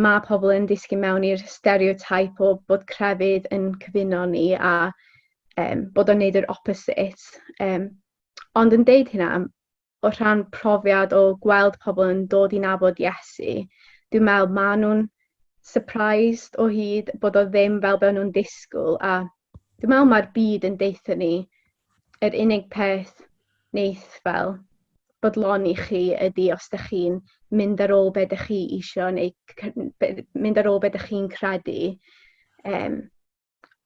mae pobl yn disgyn mewn i'r stereotype o bod crefydd yn cyfuno ni a um, bod o'n neud yr opposite. Um, ond yn deud hynna, o rhan profiad o gweld pobl yn dod i nabod Iesu, dwi'n meddwl ma' nhw'n surprised o hyd bod o ddim fel be' o'n nhw'n disgwyl a dwi'n meddwl ma'r byd yn deutha ni yr unig peth neith fel bodloni chi ydi os dych chi'n mynd ar ôl be' dych chi isio neu c- c- be- mynd ar ôl be' dych chi'n credu. Um,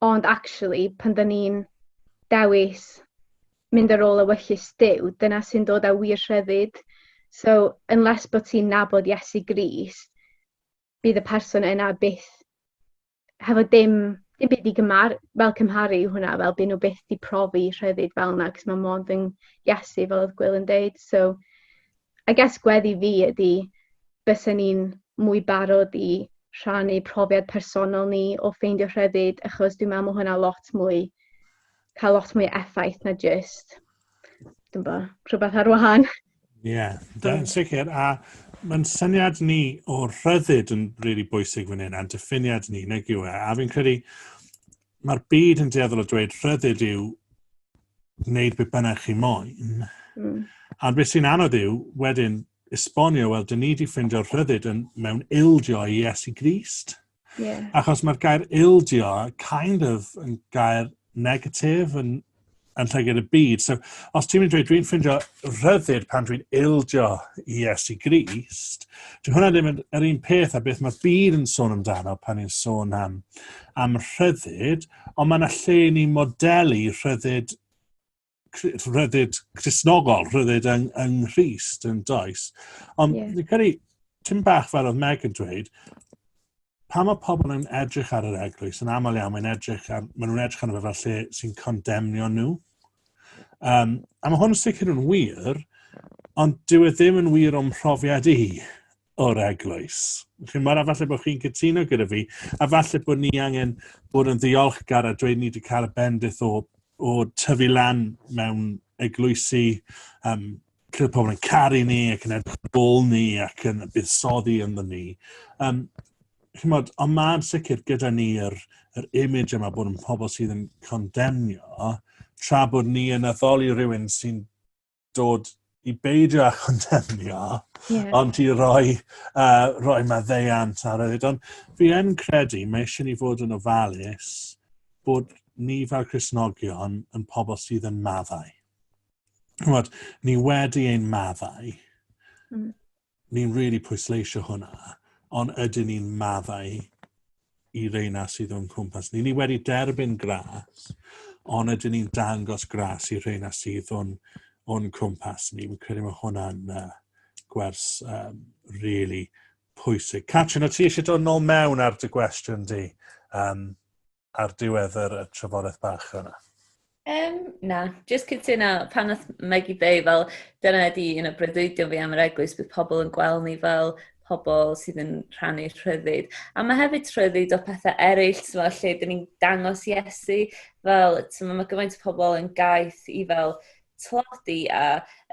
Ond actually, pan da ni'n dewis mynd ar ôl ewyllys Duw, dyna sy'n dod â wir rhyddid. So, unless bod ti'n nabod Iesu Grist, bydd y person yna byth hefo dim, dim byd i gymar, fel cymharu hwnna, fel byd nhw byth di profi rhyddid fel yna, cos mae mond yn Iesu fel oedd Gwyl yn deud. So, I guess gweddi fi ydy bysen ni'n mwy barod i rhannu profiad personol ni o ffeindio rhyddid achos dwi'n meddwl mae hwnna lot mwy cael lot mwy effaith na just dwi'n bo, rhywbeth ar wahan. Ie, yeah, yn sicr. A mae'n syniad ni o rhyddid yn rili really bwysig fan hyn, a'n diffiniad ni, nag yw e? A fi'n credu, mae'r byd yn dueddol o dweud rhyddid yw wneud beth bynnag chi moyn. Mm. A beth sy'n anodd yw, wedyn, esbonio, wel, dyn ni wedi ffeindio rhyddid yn, mewn ildio i Iesu Grist. Yeah. Achos mae'r gair ildio kind of yn gair negatif, yn yn llygad y byd. So, os ti'n mynd i dweud, dwi'n ffindio rhyddid pan dwi'n ildio i Iesu Grist, dwi'n hwnna ddim yn yr un peth a beth mae byd yn sôn amdano pan ni'n sôn am, am rhyddid, ond mae'n lle ni modelu rhyddid rhyddid chrysnogol, rhyddid yng, yng Nghyst yn does. Ond yeah. ni'n credu, ti'n bach fel oedd Meg yn dweud, pan mae pobl yn edrych ar yr eglwys, yn aml iawn, mae'n edrych ar, maen nhw'n edrych arno fe fel lle sy'n condemnio nhw. Um, a mae hwn yn sicr yn wir, ond dyw e ddim yn wir o'n mhrofiad i o'r eglwys. Chi'n mor falle bod chi'n cytuno gyda fi, a falle bod ni angen bod yn ddiolchgar a dweud ni wedi cael y bendith o, o tyfu lan mewn eglwysi um, Roedd pobl yn caru ni ac yn edrych bol ni ac yn buddsoddi ynddo ni. Um, chymod, ond mae'n sicr gyda ni yr, yr image yma bod yn pobl sydd yn condemnio, tra bod ni yn addoli rhywun sy'n dod i beidio â chondemnio, yeah. ond i roi, uh, roi maddeiant ar yd. Ond fi yn credu, mae eisiau ni fod yn ofalus bod ni fel Cresnogion yn pobl sydd yn maddau. Rwyd, ni wedi ein maddau. Mm. Ni'n rili really pwysleisio hwnna, ond ydyn ni'n maddau i reina sydd o'n cwmpas ni. Ni wedi derbyn gras, ond ydyn ni'n dangos gras i reina sydd o'n, on cwmpas ni. Fi'n credu mae hwnna'n uh, gwers um, really pwysig. Catrin, o ti eisiau dod nôl mewn ar dy gwestiwn di? Um, ar diwedd yr, y trafodaeth bach yna? Um, na, jyst cytuno, pan oedd Maggie Bay, fel dyna ydi un o breuddwydion fi am yr eglwys, bydd pobl yn gweld ni fel pobl sydd yn rhannu rhyddid. A mae hefyd rhyddid o pethau eraill, fel lle dyn ni'n dangos Iesu, fel mae gyfaint o pobl yn gaeth i fel tlodi a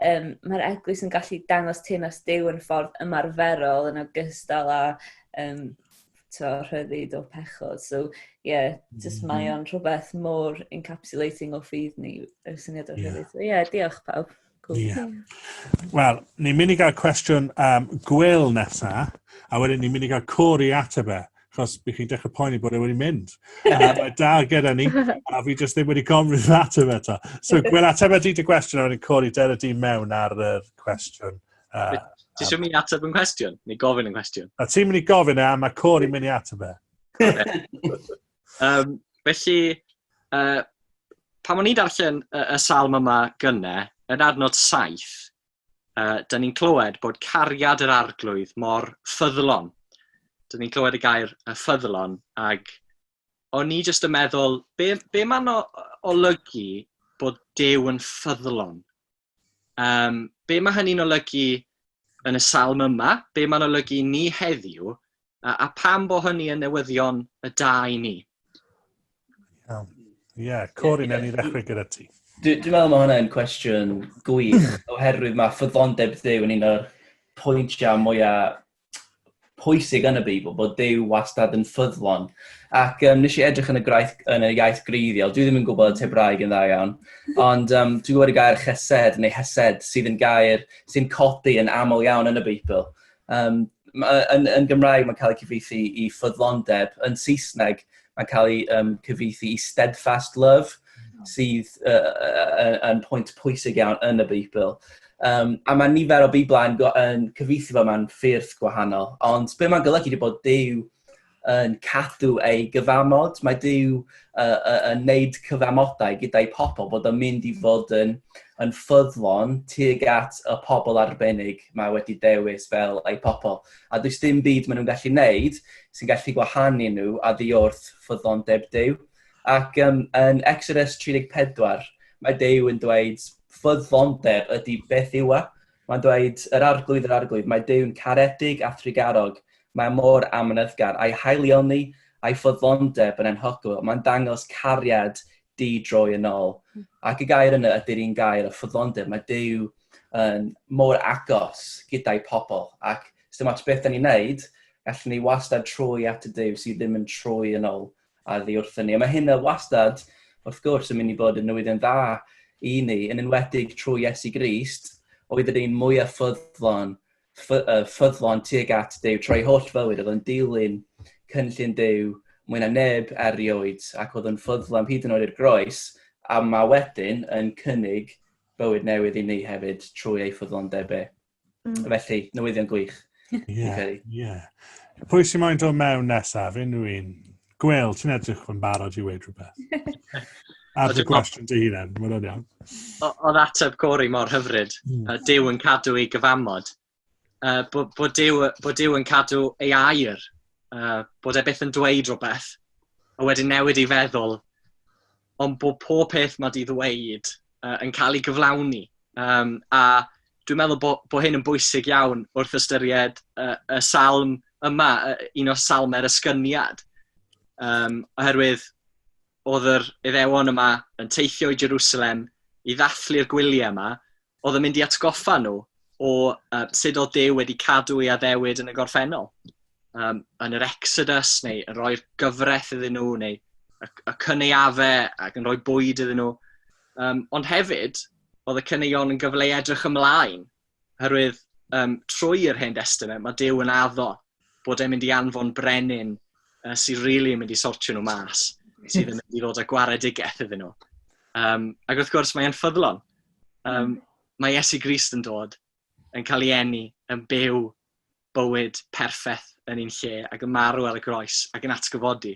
um, mae'r eglwys yn gallu dangos teimlais dew yn ffordd ymarferol yn ogystal â um, t'o' rhyddid o pechod so ie jyst mae o'n rhwbeth mor encapsulating o ffydd ni y syniad o rhyddid. So ie diolch pawb. Cool. Yeah. Wel, ni'n mynd i gael cwestiwn um, gwyl nesa, a wedyn ni'n mynd i gael cori ateb e achos bych chi'n dechrau poeni bod e wedi mynd. A mae da gyda ni, a fi jyst ddim wedi gofyn i'r ateb eto. So, gwyl ateb ydy dy gwestiwn, a wedyn cori der y di mewn ar y cwestiwn Uh, Ti eisiau mynd i ateb yn cwestiwn? Neu gofyn yn cwestiwn? A ti'n mynd i gofyn e, a mae Cori mynd i ateb e. um, felly, uh, pan o'n i'n darllen y, y salm yma gynne, yn adnod saith, uh, da ni'n clywed bod cariad yr arglwydd mor ffyddlon. Da ni'n clywed y gair y ffyddlon, ag o'n i jyst yn meddwl, be, be mae'n olygu bod Dew yn ffyddlon? Um, be mae hynny'n olygu yn y salm yma? Be mae'n olygu ni heddiw? A, a pam bo hynny yn newyddion y da i ni? Ie, yeah, Cori, yeah, ni ddechrau gyda ti. Dwi'n dwi meddwl mae hwnna'n cwestiwn gwych, oherwydd mae ffyddondeb Ddew yn un o'r pwyntiau mwyaf pwysig yn y Beibl, bod Duw wastad yn ffyddlon. Ac um, nes i edrych yn y, graith, yn y iaith greiddiol, dwi ddim yn gwybod y tebraeg yn dda iawn, ond um, dwi'n gwybod y gair chesed neu hesed sydd yn gair sy'n codi yn aml iawn yn y Beibl. Um, yn, yn Gymraeg mae'n cael ei cyfeithi i ffyddlondeb, yn Saesneg mae'n cael ei um, cyfeithi i steadfast love, hmm. sydd uh, uh, yn pwynt pwysig iawn yn y Beibl. Um, a mae nifer o Beiblau yn, yn cyfeithi fo mewn ffyrdd gwahanol. Ond be mae'n golygu wedi bod Dyw yn cadw ei gyfamod. Mae Dyw uh, uh, yn neud cyfamodau gyda'i pobl bod yn mynd i fod yn, yn ffyddlon tuag at y pobl arbennig mae wedi dewis fel ei pobl. a does dim byd maen nhw'n gallu wneud sy'n gallu gwahanu nhw a ddiwrth ffyddondeb Duw. Ac um, yn Exodus 34, mae Duw yn dweud ffyddondeb ydy beth yw e. Mae'n dweud yr arglwydd yr arglwydd, mae Dyw'n caredig a thrigarog, mae mor amynyddgar, a'i haelioni a'i ffyddondeb yn enhogol. Mae'n dangos cariad di droi yn ôl. Hmm. Ac y gair yna ydy'r un gair o ffyddlondeb. Mae Dyw yn mor agos gyda'i pobl. Ac os dim ots beth da ni'n neud, gallwn ni wastad trwy at y Dyw sydd ddim yn trwy yn ôl a ddi wrthyn ni. A mae hynna wastad, wrth gwrs, yn mynd i bod yn newyddion dda i ni, yn enwedig trwy Iesu Grist, oedd yr un mwyaf ffyddlon ffyddlon tuag at Duw trwy holl fywyd, oedd yn dilyn cynllun Duw mwy na neb erioed, ac oedd yn ffyddlon hyd yn oed i'r groes, a mae wedyn yn cynnig bywyd newydd i ni hefyd trwy ei ffyddlondeb e. Mm. Felly, newyddion gwych. Ie, yeah, ie. Yeah. Pwy sy'n moyn dod mewn nesaf? Unrhyw un? Gwel, ti'n edrych yn barod i weid rhywbeth. Ar dy gwestiwn dy hunan, mae'n o'n iawn. Oedd ateb Cori mor hyfryd, mm. uh, Dyw yn cadw ei gyfamod, uh, bod, bod, Dyw, bod Dyw yn cadw ei air, uh, bod e byth yn dweud rhywbeth, a wedyn newid ei feddwl ond bod pob peth mae 'di ddweud uh, yn cael ei gyflawni. Um, a dwi'n meddwl bod, bod hyn yn bwysig iawn wrth ystyried uh, y salm yma, uh, un o salmau'r ysgyniad. Um, oherwydd oedd yr iddewon yma yn teithio i Jerusalem i ddathlu'r gwyliau yma, oedd yn mynd i atgoffa nhw o uh, sut oedd Dew wedi cadw ei addewid yn y gorffennol. Um, yn yr Exodus, neu yn rhoi'r gyfraith iddyn nhw, neu y, y cyneuafe ac yn rhoi bwyd iddyn nhw. Um, ond hefyd, oedd y cyneuon yn gyfle i edrych ymlaen, herwydd um, trwy yr Hen Testament mae Dew yn addo bod e'n mynd i anfon brenin uh, sy'n rili really yn mynd i sortio nhw mas, sydd yn mynd i ddod â gwaredigaeth iddyn nhw. Um, ac wrth gwrs, mae'n ffyddlon. Um, mae Iesu Grist yn dod, yn cael ei enni, yn byw bywyd perffaith yn ein lle, ac yn marw ar y groes, ac yn atgyfodi.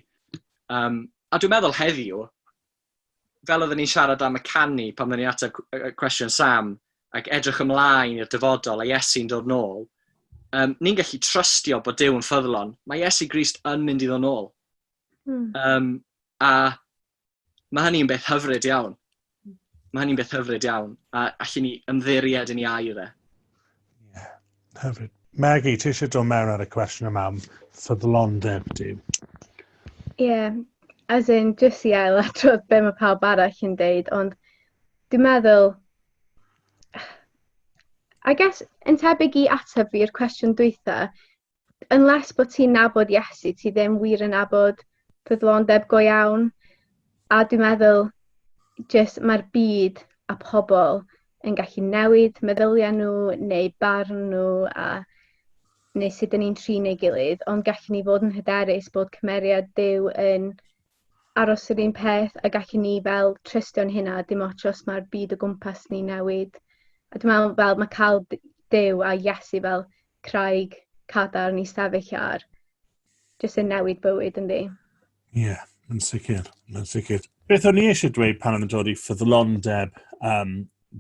Um, a dwi'n meddwl heddiw, fel oedden ni'n siarad am y canu pan oedden ni'n ateb cwestiwn Sam, ac edrych ymlaen i'r dyfodol a Iesu'n dod nôl, um, ni'n gallu trystio bod Dyw yn ffyddlon. Mae Iesu Grist yn mynd i ddod nôl. Mm. Um, a mae hynny'n beth hyfryd iawn. Mae hynny'n beth hyfryd iawn. A allu ni ymddiried yn ei air e. hyfryd. Maggie, ti eisiau dod mewn ar y cwestiwn yma am ffyddlondeb di? Ie, yeah, as in, jyst i ail adrodd be mae pawb arall yn deud, ond dwi'n meddwl, I guess, yn tebyg i ateb fi i'r cwestiwn dwytha, unless bod ti'n nabod Iesu, ti ddim wir yn nabod ffyddlondeb go iawn a dwi'n meddwl jyst mae'r byd a pobl yn gallu newid meddyliau nhw neu barn nhw a neu sut dyn ni'n trin ei gilydd, ond gallu ni fod yn hyderus bod cymeriad Dyw yn aros yr un peth a gallu ni fel trystio'n hynna dim ots os mae'r byd o gwmpas ni newid. A dwi'n meddwl fel mae cael Dyw a Iesu fel craig cadarn i sefyll ar, jyst yn newid bywyd yn ddi. Ie, yeah, yn sicr, yn sicr. Beth o'n i eisiau dweud pan o'n dod i ffyddlondeb um,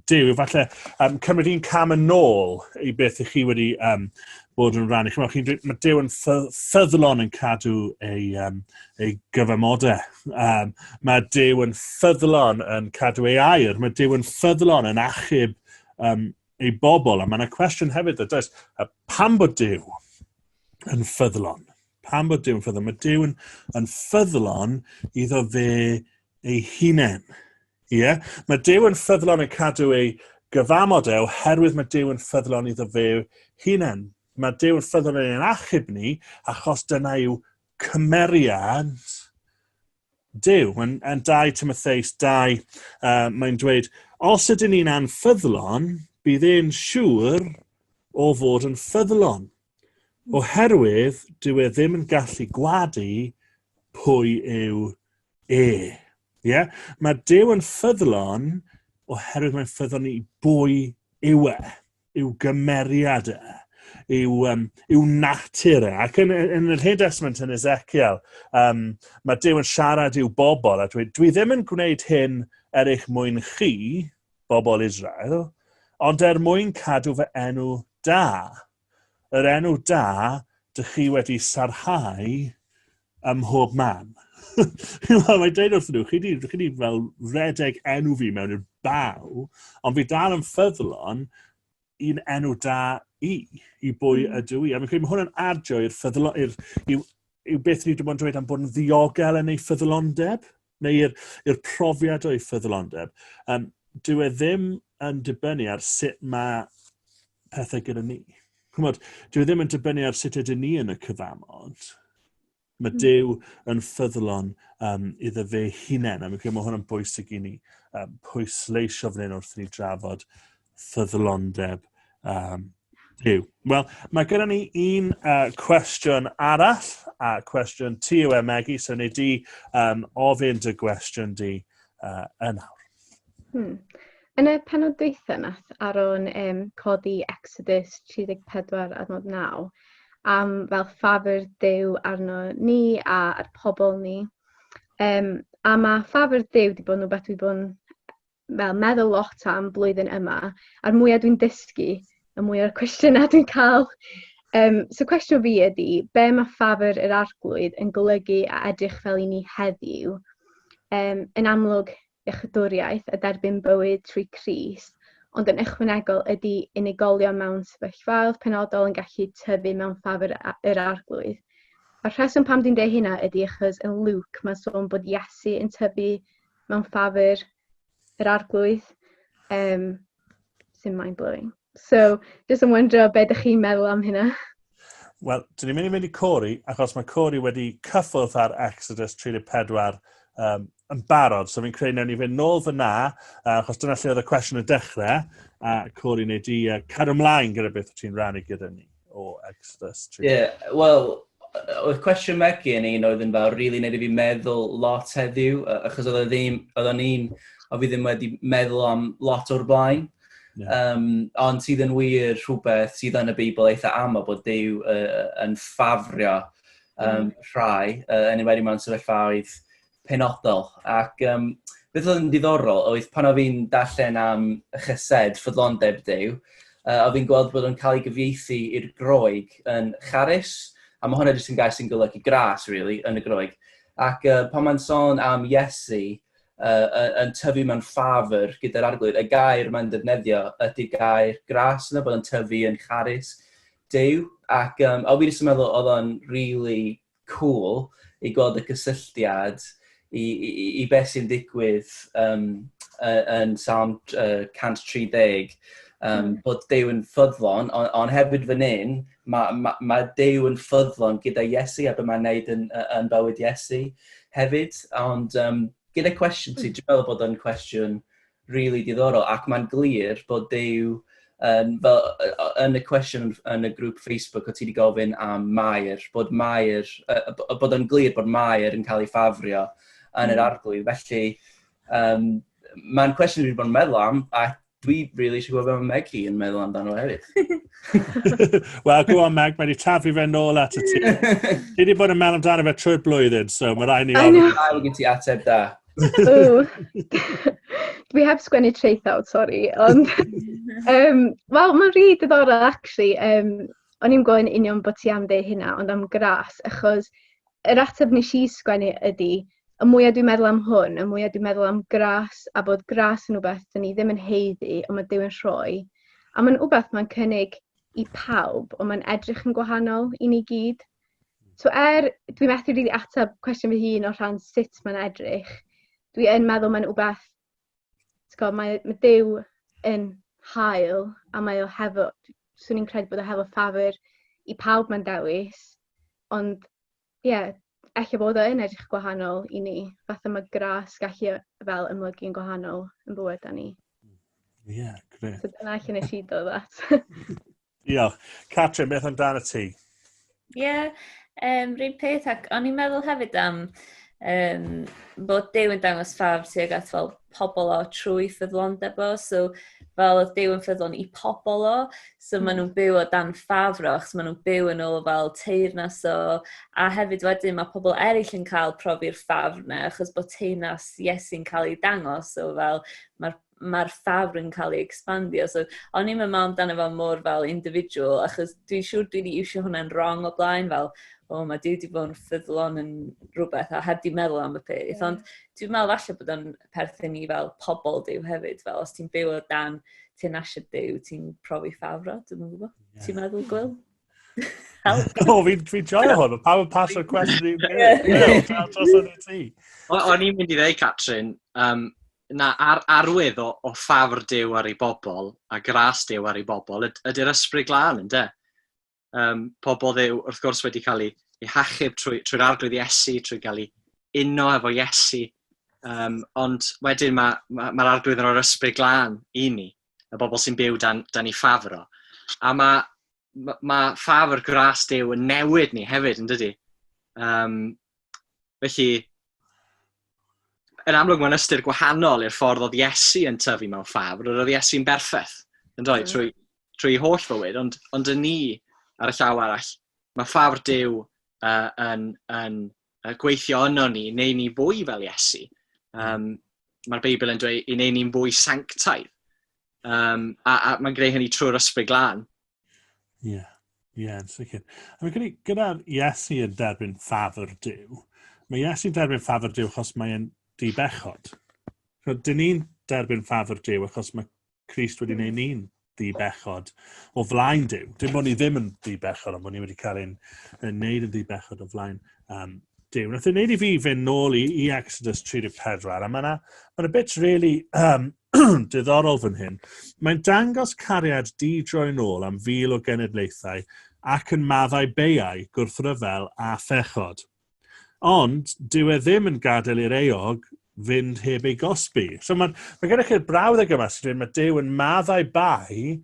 Dyw, efallai um, cymryd un cam yn ôl i beth ych chi wedi um, bod yn rhan. Chymryd, chi'n dweud, mae Dyw yn ffyddlon yn cadw ei, um, ei gyfamodau. Um, mae Dyw yn ffyddlon yn cadw ei air. Mae Dyw yn ffyddlon yn achub um, ei bobl, a mae yna cwestiwn hefyd, a does, a pam bod Dyw yn ffyddlon? Pam bod Dyw yn ffyddlon? Mae Dyw yn, yn ffyddlon iddo fe ei hunain. Ie? Yeah? Mae Dyw yn ffyddlon yn cadw ei gyfamod e oherwydd mae Dyw yn ffyddlon iddo fe hunain. Mae Dyw yn ffyddlon yn ein achub ni achos dyna yw cymeriad Dyw, yn, yn 2 Timotheus 2, uh, mae'n dweud, os ydyn ni'n anffyddlon, bydd e'n siŵr o fod yn ffyddlon, oherwydd dyw e ddim yn gallu gwadu pwy yw e. Yeah? Mae Dyw yn ffyddlon oherwydd mae'n ffyddlon i bwy yw e. yw gymeriad e, yw, um, yw natur e. Ac yn, yn yr hyd esmynt yn Ezekiel, um, mae Dyw yn siarad i'w bobl a dweud, dwi ddim yn gwneud hyn er eich mwyn chi, bobl Israel, ond er mwyn cadw fy enw da. Yr enw da dych chi wedi sarhau ym mhob man. Mae'n dweud wrth nhw, chi wedi fel redeg enw fi mewn i'r baw, ond fi dal yn ffyddlon i'n enw da i, i bwy mm. ydw i. A fi'n credu mae hwnna'n adio i'r ffyddlon, i'r, yw, yw beth ni wedi bod yn dweud am bod yn ddiogel yn ei ffyddlondeb. neu i'r, i'r profiad o'i ffyddlondeb, um, dyw e ddim yn dibynnu ar sut mae pethau gyda ni. Chymod, dyw e ddim yn dibynnu ar sut ydyn ni yn y cyfamod. Mae hmm. Dyw yn ffyddlon um, iddo fe hunain, a mae hwnna'n bwysig i ni um, pwysleisio fan hyn wrth ni drafod ffyddlondeb um, Duw. Wel, mae gyda ni un uh, cwestiwn arall, a uh, cwestiwn ti yw e, Megi, so ni di um, ofyn dy gwestiwn di uh, yn awr. Hmm. Yn y penod dweitha nath Aron um, codi Exodus 34 adnod 9 am fel ffafr Duw arno ni a ar pobl ni. Um, a mae ffafr Duw wedi bod yn rhywbeth wedi bod yn fel meddwl lot am blwyddyn yma, a'r mwyaf dwi'n dysgu, y mwyaf cwestiynau dwi'n cael. Um, so cwestiwn fi ydy, be mae ffafr yr arglwydd yn golygu a edrych fel i ni heddiw? Um, yn amlwg, iechydwriaeth a derbyn bywyd trwy Cris, ond yn ychwanegol ydy unigolion mewn sefyllfaoedd penodol yn gallu tyfu mewn ffafr yr arglwydd. A'r rheswm pam dwi'n dweud hynna ydy achos yn Luke mae'n sôn bod Iesu yn tyfu mewn ffafur yr arglwydd um, sy'n mind-blowing. So, jyst yn wyndro beth ydych chi'n meddwl am hynna. Wel, dyn ni'n mynd i mynd i Cori, achos mae Cori wedi cyffwrdd ar Exodus 34 um, yn barod. So fi'n credu newn ni fynd nôl fyna, uh, achos dyna lle oedd y cwestiwn y dechrau, a Cori, neu di uh, cadw ymlaen gyda beth ti'n rannu gyda ni. o extra stream. Ie, yeah, wel, oedd cwestiwn Megi yn un oedd yn fawr, rili really, nid i fi meddwl lot heddiw, achos oedd e ddim, oedd o'n un o fi ddim wedi meddwl am lot o'r blaen. Yeah. Um, ond sydd yn wir rhywbeth sydd yn y Beibl eitha aml bod Dyw uh, yn ffafrio um, mm. rhai, uh, yn enwedig mewn sefyllfaoedd penodol ac um, beth oedd yn diddorol oedd pan oedd fi'n darllen am y chysed ffyddlondeb dew, uh, oedd fi'n gweld bod yn cael ei gyfieithu i'r groeg yn charus, a mae hwnna jyst yn gair sy'n golygu gras, really, yn y groeg. Ac uh, pan mae'n sôn am Iesu uh, yn tyfu mewn ffafr gyda'r arglwydd, y gair mae'n defnyddio ydy gair gras yna, bod yn tyfu yn charus dew. Ac um, o fi jyst yn meddwl oedd o'n really cŵl i gweld y cysylltiad i, i, i beth sy'n digwydd um, yn Sam uh, 130, um, mm. bod Dew yn ffyddlon, ond on hefyd fan hyn, mae ma, ma Dew yn ffyddlon gyda Iesu a beth mae'n neud yn, yn bywyd Iesu hefyd. Ond um, gyda cwestiwn ti, hmm. dwi'n meddwl bod o'n cwestiwn rili diddorol ac mae'n glir bod Duw yn, fel yn y cwestiwn yn y grŵp Facebook o ti wedi gofyn am Mair, bod Mair, uh, bod yn glir bod Mair yn cael ei ffafrio yn yr hmm. arglwydd. Felly, um, mae'n cwestiwn dwi'n bod yn meddwl am, a dwi really eisiau gwybod beth mae Meg hi yn meddwl amdano hefyd. Wel, go on Meg, mae wedi tafu fe nôl at y ti. Ti wedi bod yn meddwl amdano fe trwy'r blwyddyn, so mae rhaid ni... I know. Ail gen ti ateb da. Dwi heb sgwennu traethawd, sori. Ond, um, wel, mae'n rhi diddorol, actually. Um, o'n i'n gofyn union bod ti am dde hynna, ond am gras, achos yr ateb nes i sgwennu ydy, y mwyaf dwi'n meddwl am hwn, y mwyaf dwi'n meddwl am gras, a bod gras yn rhywbeth dyn ni ddim yn heiddi, ond mae Duw'n rhoi. A mae'n rhywbeth mae'n cynnig i pawb, ond mae'n edrych yn gwahanol i ni gyd. So er, dwi methu rili ateb cwestiwn fy hun o rhan sut mae'n edrych, dwi yn meddwl mae'n wbeth, gwybod, mae, mae Dyw yn hael a mae o hefo, swn i'n credu bod o hefo ffafr i pawb mae'n dewis, ond ie, yeah, efallai bod o yn edrych gwahanol i ni, fatha mae gras gallu fel ymlygu yn gwahanol yn bywyd da ni. Ie, yeah, gret. So dyna allan nes i dod at. Diolch. Catrin, beth amdano ti? Ie, yeah, um, rhywun peth, ac o'n i'n meddwl hefyd am um, bod Dew yn dangos ffafr tuag at fel pobl o trwy ffyddlondeb o, so fel oedd Dew yn ffyddlon i pobl o, so mm. maen nhw'n byw o dan ffafr o, achos maen nhw'n byw yn ôl fel teirnas o, a hefyd wedyn mae pobl eraill yn cael profi'r ffafr na, achos bod teirnas Iesu'n cael ei dangos, so fel mae'r mae'r ffafr yn cael ei expandio. So, o'n i'n meddwl amdano fo mor fel individual, achos dwi'n siŵr dwi wedi iwsio hwnna'n wrong o blaen, fel, o, oh, mae di wedi bod yn ffyddlon yn rhywbeth, a heb di meddwl am y peth. Yeah. Ond dwi'n meddwl falle bod o'n perthyn i fel pobl diw hefyd, fel os ti'n byw o dan ti'n asio diw, ti'n profi ffafro, dwi'n meddwl. Yeah. Ti'n meddwl, Gwyl? O, fi'n fi joio hwn, pa yn pasio'r cwestiwn i'n gwneud. O'n i'n mynd i ddweud, Catrin, um, Na, ar, arwydd o, o ffafr Duw ar ei bobl, a gras Duw ar ei bobl, yd, ydy'r ysbryd glân, ynddo? Um, pobl ddew, wrth gwrs, wedi cael ei, ei hachub trwy'r trwy arglwydd Iesu, trwy gael ei uno efo Iesu, um, ond wedyn mae'r ma, ma, ma arglwydd yn o'r ysbryd glân i ni, y bobl sy'n byw dan, dan ei ffafr o. A mae mae ma ffafr gras Dew yn newid ni hefyd, yn dydy? Um, felly, yn amlwg mae'n ystyr gwahanol i'r ffordd oedd Iesu yn tyfu mewn ffafr, yr oedd Iesu'n berffaith, yn dweud, trwy, trwy holl fywyd, ond, ond yn ni, ar y llaw arall, mae ffafr Dew uh, yn, yn, uh, gweithio yno ni, neu ni fwy fel Iesu. Um, Mae'r Beibl yn dweud i neu ni'n fwy sanctaidd. Um, a, a mae'n greu hynny trwy'r ysbryd glân. Ie, yeah. ie, yeah, yn sicr. A mae gyda, gyda Iesu yn derbyn ffafr Dyw, mae Iesu'n derbyn ffafr Dyw achos mae'n dibechod. So, dyn ni'n derbyn ffafr Dyw achos mae Christ wedi gwneud ni'n ddi bechod o flaen Dyw. Dim bod ni ddim yn ddi bechod, ond bod ni wedi cael ein wneud yn ddi bechod o flaen um, Dyw. Nath ei wneud i fi fynd nôl i, i Exodus 34, a mae yna ma, na, bit really um, diddorol fan hyn. Mae'n dangos cariad di droi'n ôl am fil o genedlaethau ac yn maddau beiau, gwrthryfel a phechod. Ond, dyw e ddim yn gadael i'r eog fynd heb ei gosbi. So mae, mae gennych chi'r brawddeg yma sy'n dweud mae Dyw yn maddau bai,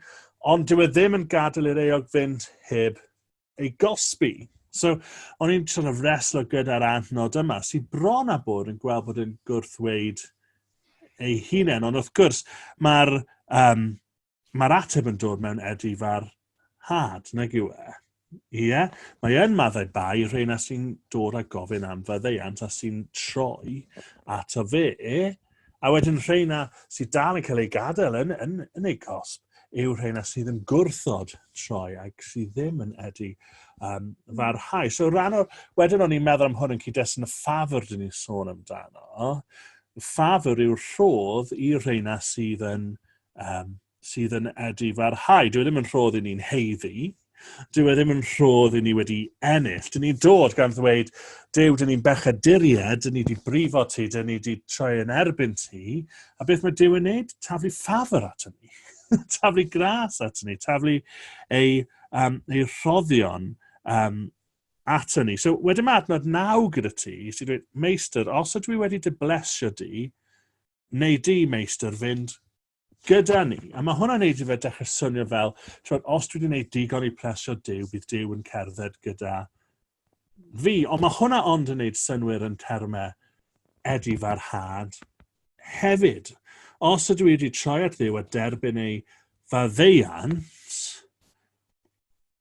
ond dyw e ddim yn gadael i'r eog fynd heb ei gosbi. So, o'n i'n sort of reslo gyda'r adnod yma, sy'n bron a bod yn gweld bod yn gwrthweid ei hunain, ond wrth gwrs, mae'r um, Mae'r ateb yn dod mewn edifar had, nag yw e? Ie, mae yn maddau bai rheina sy'n dod a gofyn am faddeuant a sy'n troi ato fe, a wedyn rheina sy'n dal yn cael ei gadael yn, yn, yn ei cosb yw rheina sydd yn gwrthod troi ac sydd ddim yn edu um, farhau. So rhan o'r, wedyn o'n i'n meddwl am hwn yn cyd-destun y ffafr dyn ni'n sôn amdano. Ffafr yw'r rhodd i reina sydd yn um, sydd yn edu farhau. Dwi e ddim yn rhodd i ni'n heiddi, dwi e ddim yn rhodd i ni wedi ennill. Dyn ni'n dod gan ddweud, Dew, dyn ni'n bechaduried, dyn ni wedi brifo ti, dyn ni wedi troi yn erbyn ti, a beth mae Dew yn neud? Taflu ffafr ato ni. taflu gras ato ni, taflu ei, um, ei rhoddion um, ato ni. So, wedyn mae adnod naw gyda ti, sy'n dweud, Meistr, os ydw i wedi dy blesio di, neu di meistr fynd gyda ni. A mae hwnna'n neud i fe dechrau swnio fel, twod, os dwi wedi gwneud digon i plesio Dyw, bydd Dyw yn cerdded gyda fi. Ond mae hwnna ond yn neud synwyr yn termau Eddie Farhad hefyd. Os ydw i wedi troi at Dduw a derbyn ei faddeuant,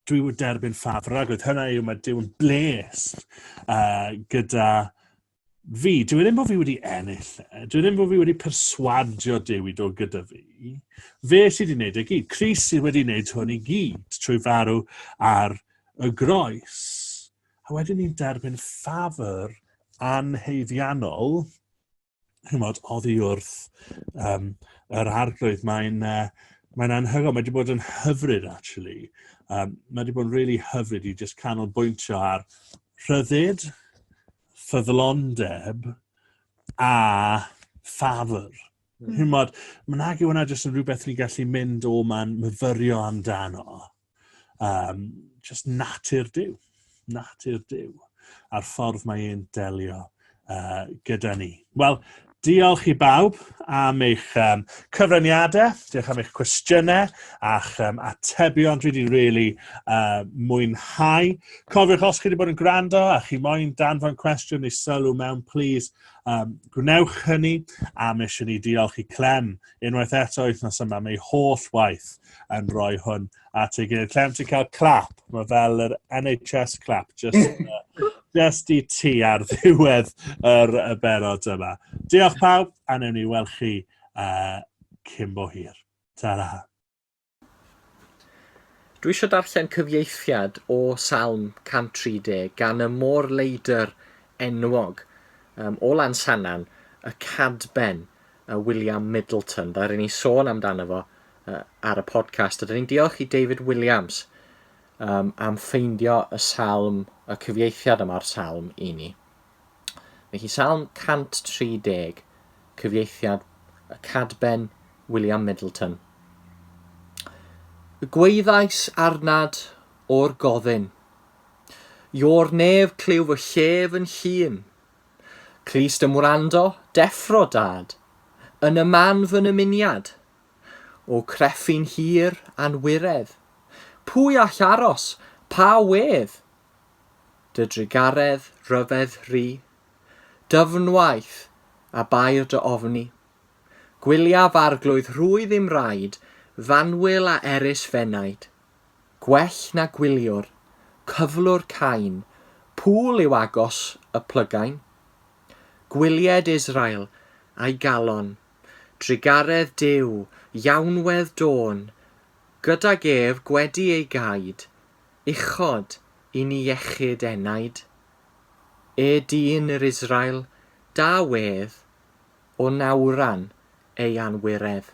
dwi wedi derbyn ffaf ragwyd. Hynna yw, mae Dyw yn blessed uh, gyda fi. Dwi ddim bod fi wedi ennill e. Dwi ddim bod fi wedi perswadio Dyw i dod gyda fi. Fe sydd wedi gwneud y e gyd. Cris sydd wedi gwneud hwn i gyd trwy farw ar y groes. A wedyn ni'n derbyn ffafr anheifiannol chymod, oddi wrth um, yr arglwydd. Mae'n uh, mae anhygoel, mae wedi bod yn hyfryd, actually. Um, mae wedi bod yn really hyfryd i just canolbwyntio ar rhyddid, ffyddlondeb a ffafr. Mm. Hymod, mae nag yw hwnna jyst yn rhywbeth ni'n gallu mynd o ma'n myfyrio amdano. Um, just natur Dyw. Natur Dyw. A'r ffordd mae e'n delio uh, gyda ni. Wel, Diolch i bawb am eich um, cyfraniadau, diolch am eich cwestiynau a'ch um, atebion. Dwi wedi really uh, mwynhau. Cofiwch os chi wedi bod yn gwrando a chi moyn danfon cwestiwn neu sylw mewn, please, um, gwnewch hynny. A mis i ni diolch i Clem unwaith eto wythnos yma, mae holl waith yn rhoi hwn at ei gilydd. Lle am ti cael clap? Mae fel yr NHS clap, just, uh, just i ti ar ddiwedd yr y berod yma. Diolch pawb, a newn ni weld chi uh, cyn bo hir. Ta-ra. Dwi eisiau darllen cyfieithiad o Salm 130 gan y môr leidr enwog um, o Lansanan, y Cadben, y William Middleton. Dda'r i ni sôn amdano fo uh, ar y podcast. Ydyn ni'n diolch i David Williams um, am ffeindio y salm, y cyfieithiad yma'r salm i ni. Mae hi salm 130, cyfieithiad y cadben William Middleton. Y gweithais arnad o'r goddyn. Io'r nef clyw fy llef yn hun. Clust ymwrando, deffro dad. Yn y man fy nymuniad, O crefin hir a'n wiredd. Pwy all aros, pa wedd? Dy drugaredd ryfedd ry. Dyfnwaith, a bair dy ofni. Gwyliaf arglwydd rhwydd i'm raid, Fanwyl a erys f'enaid. Gwell na gwyliwr, cyflwr cain, Pŵl yw agos y plygain? Gwylied Israel, a'i galon, Drugaredd Duw, Iawnwedd Dôn, Gydag ef gwedi ei gaed, Uchod i ni iechyd enaid. E dyn yr Israel, da wedd, O nawran ei anwiredd.